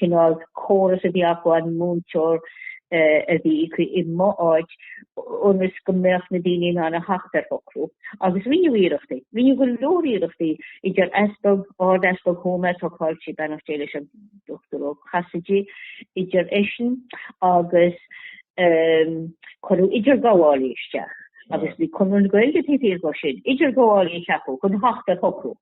cineál córas a bhí acu, múinteoir a bhí i mo áit ionas go mbeadh na daoine in ann a theacht ar shocrú. Agus rinneadh iarrachtaí. Rinneadh go leor iarrachtaí idir easpag, ard-easpag Thuama ag an am a tócáil sí, beannacht Dé leis an Dr Ó Casaide, idir eisean agus cuireadh idirghabhálaí isteach agus bhí Conradh na Gaeilge taobh thiar dhó sin, idirghabhálaí a cheapadh chun theacht ar shocrú.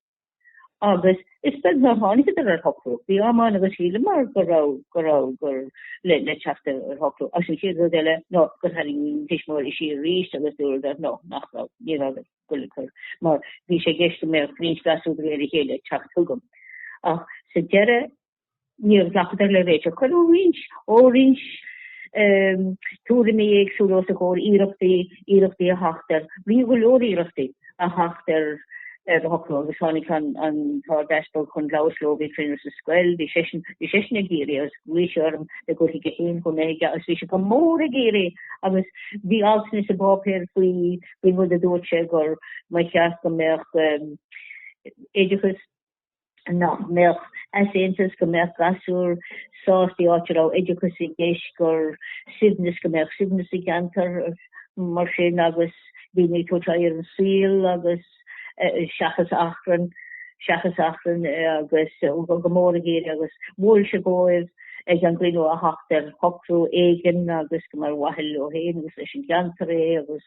agus is beag nár tháinigeadar ar shocrú. Bhí am amháin agus shíleamar go raibh, go raibh, go raibh, le teacht ar, ar shocrú. Is an chéad rud eile, nó gur tháinig an tuismitheoirí isteach arís agus dúradar, no, nach raibh, ní raibh ag goil ag cur, mar bhí sé i gceist go mbeadh roinnt gasúir de réir a chéile ag teacht chugam. Ach sa deireadh, Níor ghlacadar le réiteach cuireadh roinnt, roinnt ehm, tuairimí éagsúla os a gcomhair, iarrachtaí, iarrachtaí a theacht ar, rinneadh go leor iarrachtaí a theacht ar, ar shocrú agus tháinig an, an tArdeaspag chun labhairt leo, bhí cruinniú sa scoil, bhí seisean, bhí seisean ag iarraidh agus ghuigh sé orm gur thuig sé féin chomh maith, agus bhí sé go mór ag iarraidh agus bhí altanna sa bpáipéar faoi, faoin rud a dúirt sé gur, ba cheart go mbeadh ehm, oideachas nach mbeadh easaontas go mbeadh gasúir sásta, áit a raibh oideachas i gceist, gur suaimhneas go mbeadh suaimhneas i gceantar mar sin agus daoine ag tabhairt aghaidh ar an saol agus seachas achrann, seachas achrann agus go mór a d'iarr agus mhol sé dhóibh ag an gcruinniú a theacht ar shocrú éigin agus gur ar mhaithe leo féin agus leis an gceantar é agus.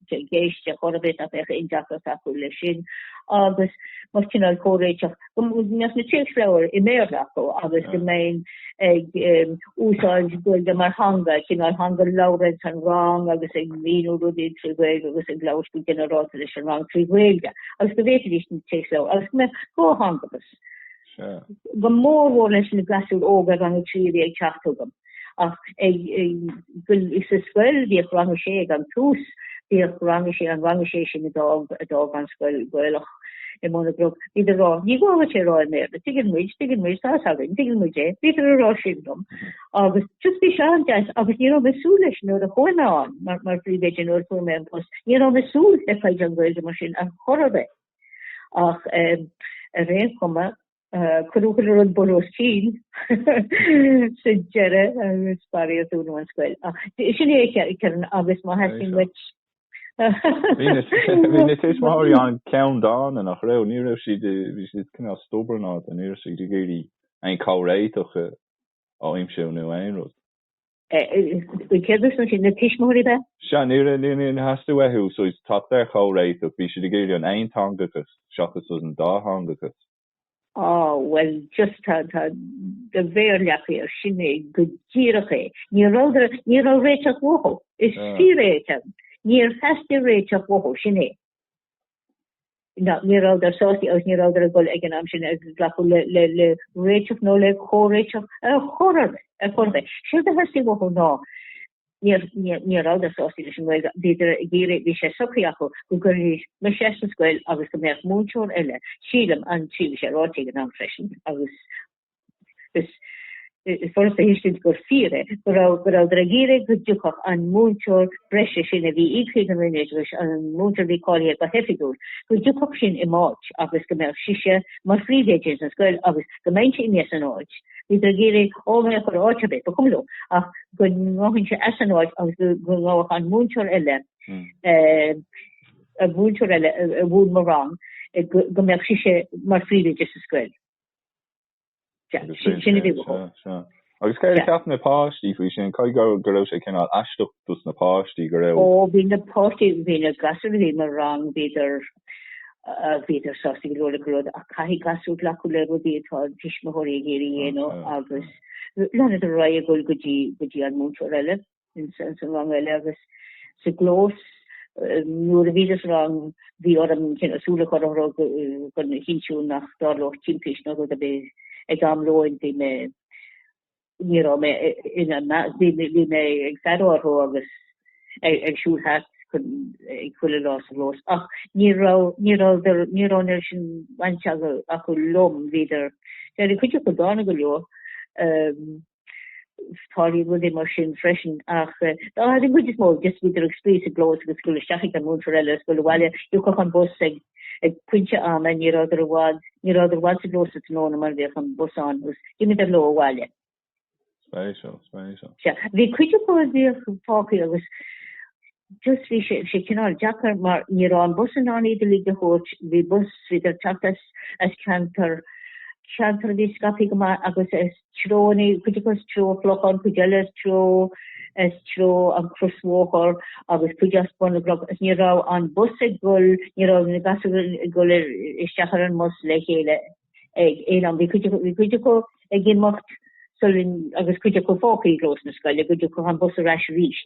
i gceist ar chor ar bith, nach mbeadh aon deacracht acu leis sin agus mar cineál comhréiteach, go mbeadh na téacsleabhair i mBéarla acu agus go mbeinn ag úsáid Gaeilge mar theanga, cineál theanga labhartha ag an rang agus ag míniú rudaí trí Ghaeilge agus ag labhairt go ginearálta leis an rang trí Ghaeilge agus go bhféadfaidís na téacsleabhair agus go mbeadh comhtheangachas. go mór mhór leis na gasúir óga rang a trí a bhí ag teacht chugam ach is sa scoil bhíodh rang a sé ag an tús bhíodh rang a sé an rang a sé sin a d'fhág an scoil Gaelach i mBun an Chnoic bhíodar a rá ní gá duit é rá i mBéarla tuigeann muid tuigeann muid tá fhios againn tuigeann muid é bhíodar a rá sin dom agus just bhí sé an-deas agus ní raibh mé súil leis nuair a chuaigh mé ann mar mar phríomhoide nuair a fuair mé an post ní raibh mé súil le fadhb an Ghaeilge mar sin ar chor ar bith. Ach ar aon chuma, cuireadh chuile rud bun os cionn sa deireadh agus faraor dúnadh an scoil. Ach sin é, Kieran, agus má theastaíonn duit. Bhí na tuismitheoirí an-cheanndána, nach raibh? Ní raibh siad, bhí siad cineál stubbornáilte, ní raibh siad ag iarraidh aon chomhréiteach a aimsiú nó aon rud. Cé hiad sin, na tuismitheoirí an ea? Sea, ní hé a theastaigh uathu, teacht ar chomhréiteach, bhí siad ag iarraidh an aonteangachas seachas an dátheangachas. Á, bhuel, just tá, tá, de Bhéarla. Sin é go díreach é. Níor, níor, réiteach uathu. Is fíor é a Sheáin, níor theastaigh réiteach uathu, sin é. Ná, ní rabhadar sásta agus ní rabhadar ag dul ag an am sin ag glacadh le, le, le réiteach nó le comhréiteach ar, ar chor ar bith. Séard a theastaigh uathu, ná, níor, níor, ní rabhadar sásta leis an nGaeilge, bhíodar ag iarraidh, bhí sé socraithe acu go gcuirfí mise as an scoil agus go mbeadh múinteoir eile, sílim, an tríú, bhí sé ráite ag an am freisin, agus, is furasta a thuiscint gur fíor é go rabhadar ag iarraidh go dtiocfadh an múinteoir breise sin a bhí íoctha ag an Roinn Oideachais, an múinteoir a bhí cáilithe go hoifigiúil, go dtiocfadh sin i m'áit agus go mbeadh sise mar phríomhoide ins an scoil agus go mbeinnse imithe as an áit. Bhíodar ag iarraidh orm a dhul áit ar bith, ba chuma leo, ach go ngabhfainnse as an áit agus go ngabhfadh an múinteoir eile, an múinteoir eile a mhúineadh mo rang, go mbeadh sise mar phríomhoide sa scoil. agus céard a cheap na páistí faoi sin caithfidh go raibh sé cineál aisteach dos na páistí go raibh ó bhí na páistí bhí na gasúir bhí mo rang bhíodar bhíodar sásta go leor leis go raibh ach caithfidh gasúir glacadh le rudaí atá a dtuismitheoirí ag iarraidh a dhéanamh agus leanadar ar aghaidh go dtí go dtí an múinteoir eile ins an rang eile agus sa gclós nuair a bhídís sa rang bhí orm súil a choinneáil orthu chun a chinntiú nach dtarlódh timpist nó rud ar bith ag am lóin. Bhí mé ní raibh mé in a measc bhí mé ag faire orthu agus ag siúl thart ag chuile lá sa gclós ach ní raibh ní raibh ní raibh mórán sin bainte acu liom. Bhíodar cuid acu dána go leor. tharla rudaí mar sin freisin ach ar an gcuid is mó just bhíodar ag spraoi sa gclós agus ag goil isteach ag an múinteoir eile agus ag goil abhaile thiocfadh an bus ag ag pointe ama ní rabhadar i bhfad ní rabhadar i bhfad sa gclós sa tráthnóna mar bhíodh an bus ann agus d'imíodar leo abhaile. Spéisiúil, spéisiúil. Sea, bhí cuid acu a bhíodh fágtha agus Just bhí sé, bhí sé cineál deacair mar ní raibh an bus in ann iad uilig a thabhairt. Bhí bus, bhíodar ag teacht as, as ceantar, ceantar a bhí scaipthe go maith agus as treo na, cuid acu as treo an Chlocháin, cuid eile as treo, as treo an Chrosbhóthair agus cuid as Bun na gCnoc agus ní raibh an bus ag gol, ní raibh na gasúir ag gol ar, isteach ar an mbus le chéile ag aon am. Bhí cuid acu, bhí cuid acu ag imeacht sular, agus cuid acu fágtha i gclós na scoile, go dtiocfadh an bus ar ais arís.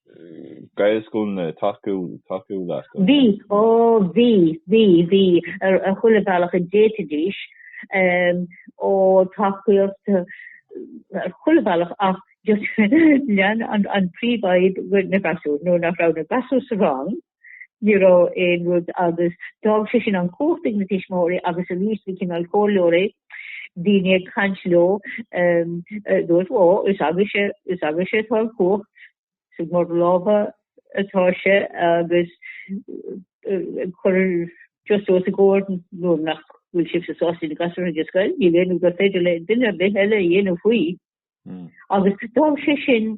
Gaelscoileanna tacú leat a Ó bhí, bhí, bhí, ar chuile bhealach a d'fhéadfaidís, ó tacaíocht ar chuile bhealach ach just lean an príomhfhadhb na gasúir, nuair nach raibh na gasúir sa rang, Ní raibh aon rud agus d'fhág sé sin an chumhacht ag na tuismitheoirí agus arís bhí cineál comhairleoirí, daoine ag caint leo, dúirt, Ó, is agaibhse, is agaibhse atá an chumhacht, is in bhur lámha atá sé agus ag cur just os a gcomhair nuair nach bhfuil sibhse sásta na gasúir a chur ag an scoil. Níl aon rud gur féidir le duine ar bith eile a dhéanamh faoi. Agus d'fhág sé sin,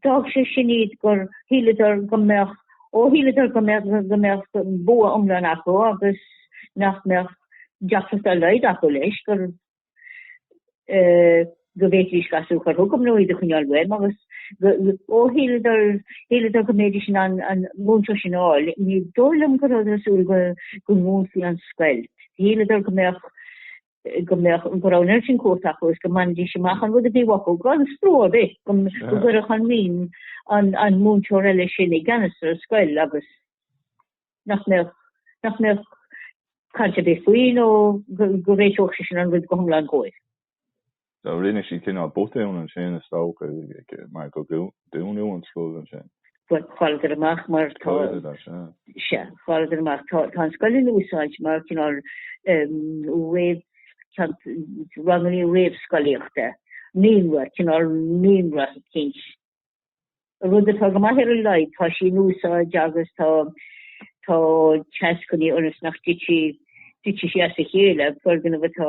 d'fhág sé sin iad gur shíleadar go mbeadh, ó shíleadar go mbeadh, go mbeadh bua iomlán acu agus nach mbeadh deacracht dá laghad acu leis, gur, eh, go bhféadfaidís gasúir a chur chugam nó iad a choinneáil uaim agus go, ó shíleadar, shíleadar go mbeidís in ann an múinteoir sin a fháil, ní dóigh liom go rabhadar ag súil go, go ndúnfaí an scoil. Shíleadar go mbeadh, go mbeadh go raibh an lámh in uachtar acu is go mbainfidís amach an rud a bhí uathu gan stró ar bith go go gcuirfeadh an Roinn an an múinteoir eile sin i gceannas ar an scoil agus nach mbeadh nach mbeadh caint ar bith faoi nó go go réiteodh sé sin an rud go hiomlán dóibh. Rinne sí cineál botún ansin, is dócha, mar gur dúnadh an scoil ansin. Chailleadar amach mar tá. Chailleadar as, sea. Sea, chailleadar amach. Tá an scoil in úsáid mar cineál réamh, ranganna réamhscolaíochta, naíonra, cineál naíonra, cinnte Rud atá go maith ar a laghad, tá sí in úsáid agus tá tá teas ag coinneáil ionas nach dtitfidh dtitfidh sí as a chéile, foirgneamh atá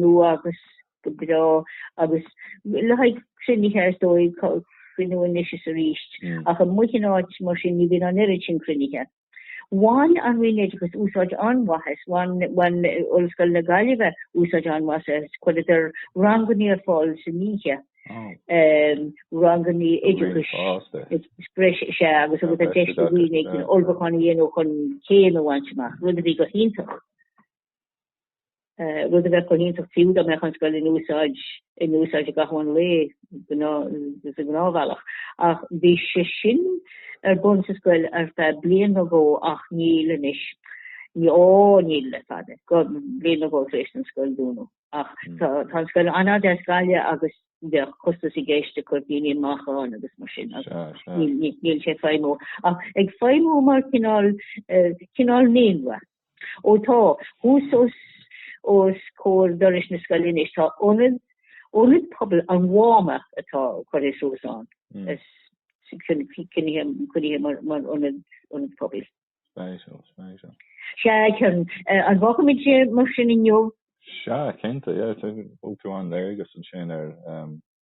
nua agus go breá agus le haghaidh cruinnithe is dóigh cruinniú anois is arís ach amuigh in áit mar sin ní bhíonn an oiread sin cruinnithe. Bhain an Roinn Oideachais úsáid an-mhaith as, bhain Ollscoil na Gaillimhe úsáid an-mhaith as, chuireadar ranganna ar fáil san oíche, ranganna oideachais breise agus agus deis do dhaoine ullmhúchán a dhéanamh chun céim a bhaint amach, rud a bhí go hiontach. rud a bheadh go hiontach fiú dá mbeadh an scoil in úsáid, in úsáid i gcaitheamh an lae, sa ngnáthbhealach. Ach bhí sé sin ar bun sa scoil ar feadh bliain nó dhó ach níl anois. Ní, ó, níl le fada. Bliain nó dhó tar éis don scoil dúnadh. Ach tá, tá an scoil an-fhada as Gaillimh agus bheadh costas i gceist ag cur daoine amach ann agus mar sin níl, níl sé ag feidhmiú. Ach ag feidhmiú mar chineál, cineál naíonra. Ó tá thuas os comhair dorais na scoile anois, tá ionad, ionad pobail an Mháma atá curtha suas ann, is coinnithe mar ionad, ionad pobail. Beidh seo, beidh seo. Sea, Kerron, an bhfágfaimid é mar sin inniu? Sea, cinnte, yeah, bhfuil tú an-léargas ansin ar.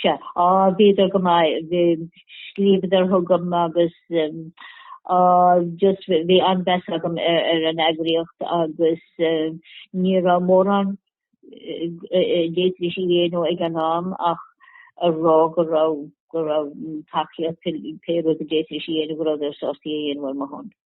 Sea, á, bhíodar go maith, bhí, scríobhadar chugam agus, á, just, bhí an-mheas agam ar an eagraíocht agus ní raibh mórán a d'fhéadfaidís a dhéanamh ag an am ach a rá go raibh, go raibh tacaíocht, pé rud a d'fhéadfaidís a dhéanamh, go rabhadar sásta é a dhéanamh ar mo shon.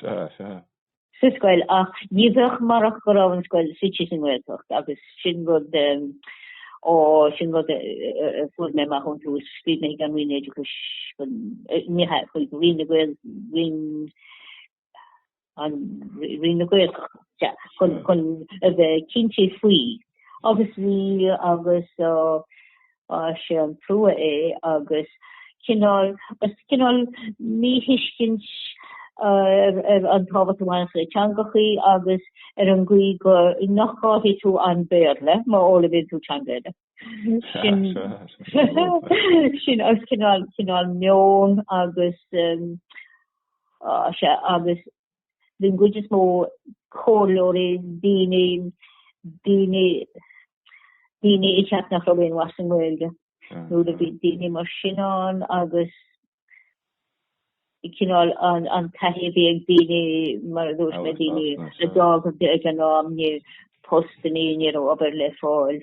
Sea, sea. sa scoil ach ní bheadh murach go raibh an scoil suite sa nGaeltacht agus sin rud, ó, sin rud a fuair mé amach ón tús, scríobh mé chuig an Roinn Oideachais, chuig Roinn na Gael, Roinn an, Roinn na Gaeltachta, sea, chun a bheith cinnte faoi agus bhí, agus, sé an trua é agus cineál is cineál míthuiscint ar an tábhacht a bhaineas le teangachaí agus ar an gcaoi go nach gcaillfidh tú an Béarla má fhoghlaimíonn tú teanga eile. Sin sin is cineál cineál meon agus sé agus bhí an gcuid is mó comhairleoirí, daoine, daoine, daoine a cheap nach raibh aon mhaith sa nGaeilge. Nuair a bhí daoine mar sin ann agus cineál an, an taithí a bhí ag daoine mar a dúirt mé daoine a d'fhágadh ag an am ní raibh postannaí, ní raibh obair le fáil.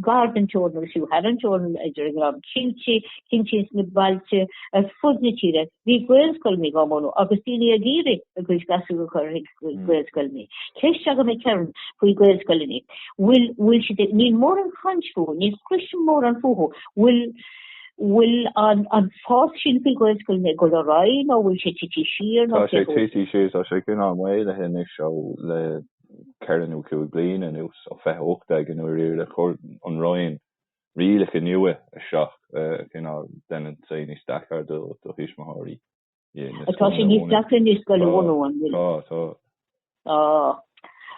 gar don teorainn agus fiú thar an teorainn, idir an Gleann cinnte, cinnte sna bailte ar fud na tíre, bhí Gaelscoileanna á mbunú agus daoine ag iarraidh a gcuid gasúir a chur chuig Gaelscoileanna. Ceist agam a Kerron faoi Gaelscoileanna. Bhfuil, bhfuil siad, níl mórán caint fúthu, ní chloisim mórán fúthu. Bhfuil, bhfuil an, an fás sin faoi Gaelscoileanna ag dul ar aghaidh nó bhfuil sé tite siar nó Tá sé tite siar, tá sé cineál maolaithe anois ó, le, ceithre nó cúig bliana anuas, ó 2018 nuair a chuir an Roinn, rialacha nua isteach, cineál deineann sé níos deacair do thuismitheoirí na scoileanna a bhunú. Tá sé níos deacair anois scoil a bhunú, an bhfuil? tá, tá. Tá.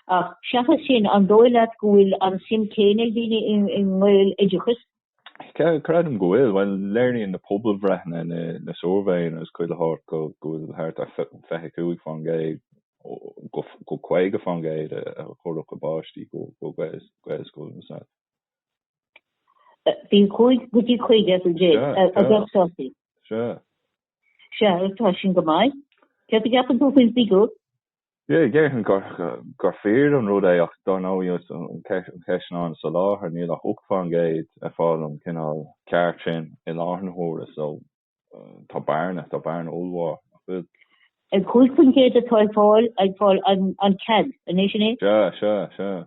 Ach seachas sin, an dóigh leat go bhfuil an suim céanna ag daoine i nGaeloideachas Creidim go bhfuil. Bhuel, léiríonn na pobalbhreitheanna, na suirbhéanna is chuile shórt go bhfuil thart ar 25 fán gcéad go 50 fán gcéad a chuirfeadh a bpáistí go Gaelscoileanna sea. 25 go dtí 50 as an 100 a bheadh sásta. Sea. Sea, tá sin go maith. Céard a cheapann tú faoin bhfigiúr? Déarfainn gur fíor an rud é ach dar ndóigh is an cheist ná an soláthar. Níl ach 8% ag fáil an cineál ceart sin i láthair na huaire so tá bearna, tá bearna ollmhór, nach bhfuil? 5% atá ag fáil, ag fáil an cead, an é sin é? Sea, sea, sea.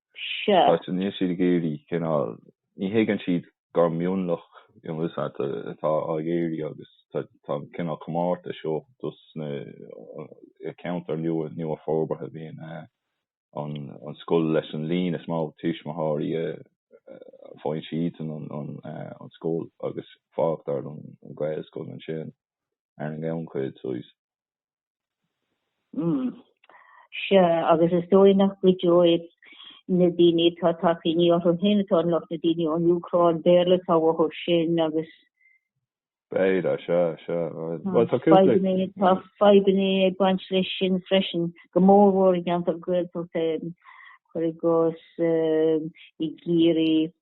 seo. Áit a mbíonn siad ag éirí, cineál, ní thuigeann siad gur mionlach atá á iarraidh agus tá an cineál comórtais seo dos na ceantair nua-fhorbartha, bíonn an scoil leis an líon is mó tuismitheoirí faigheann siad an scoil agus fágtar an Ghaelscoil ansin ar an ngannchuid. Hm. Sea, agus is dóigh nach gcuideoidh na daoine atá ag tacaíní orthu féin, atá an lucht na daoine ón Úcráin, Béarla atá uathu sin agus. B'fhéidir, sea, sea. Bhuel, tá cúpla. Tá fadhbanna ag baint leis sin freisin, go mórmhór i gceantar Gaeltachta, cuir i gcás i gCiarraí.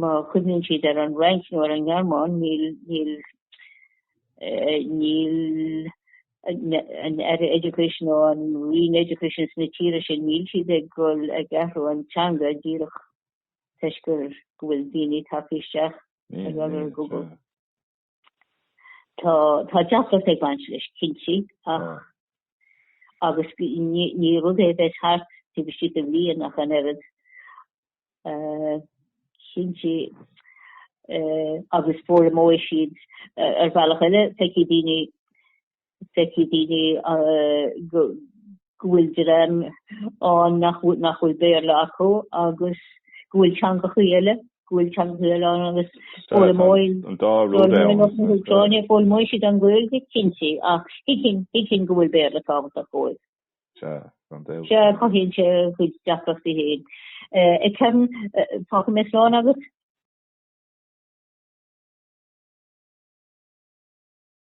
Má chuimhníonn siad ar an Fhrainc nó ar an nGearmáin, níl, níl, níl an Aire Education nó an Roinn Education sna tíortha sin, níl siad ag dul, ag athrú an teanga díreach toisc gur, go bhfuil daoine ag teacht isteach ag obair ar Google. Tá tá deacracht ag baint leis cinnte ach agus ní rud é a bheidh thart taobh istigh de bhliain ach an oiread cinnte agus foghlaimeoidh siad ar bhealach eile, feicfidh daoine feicfidh daoine go bhfuil dream ann nach bhfuil Béarla acu agus go bhfuil teangacha eile, go bhfuil teangacha eile ann agus foghlaimeoidh, an dá rud é ann, an Úcráinis, foghlaimeoidh siad an Ghaeilge, cinnte, ach thuigfinn go bhfuil Béarla tábhachtach dóibh. Sea, gan dabht. Sea, cothaíonn sé a chuid deacrachtaí féin. Ag ceann, fágfaidh mé slán agat.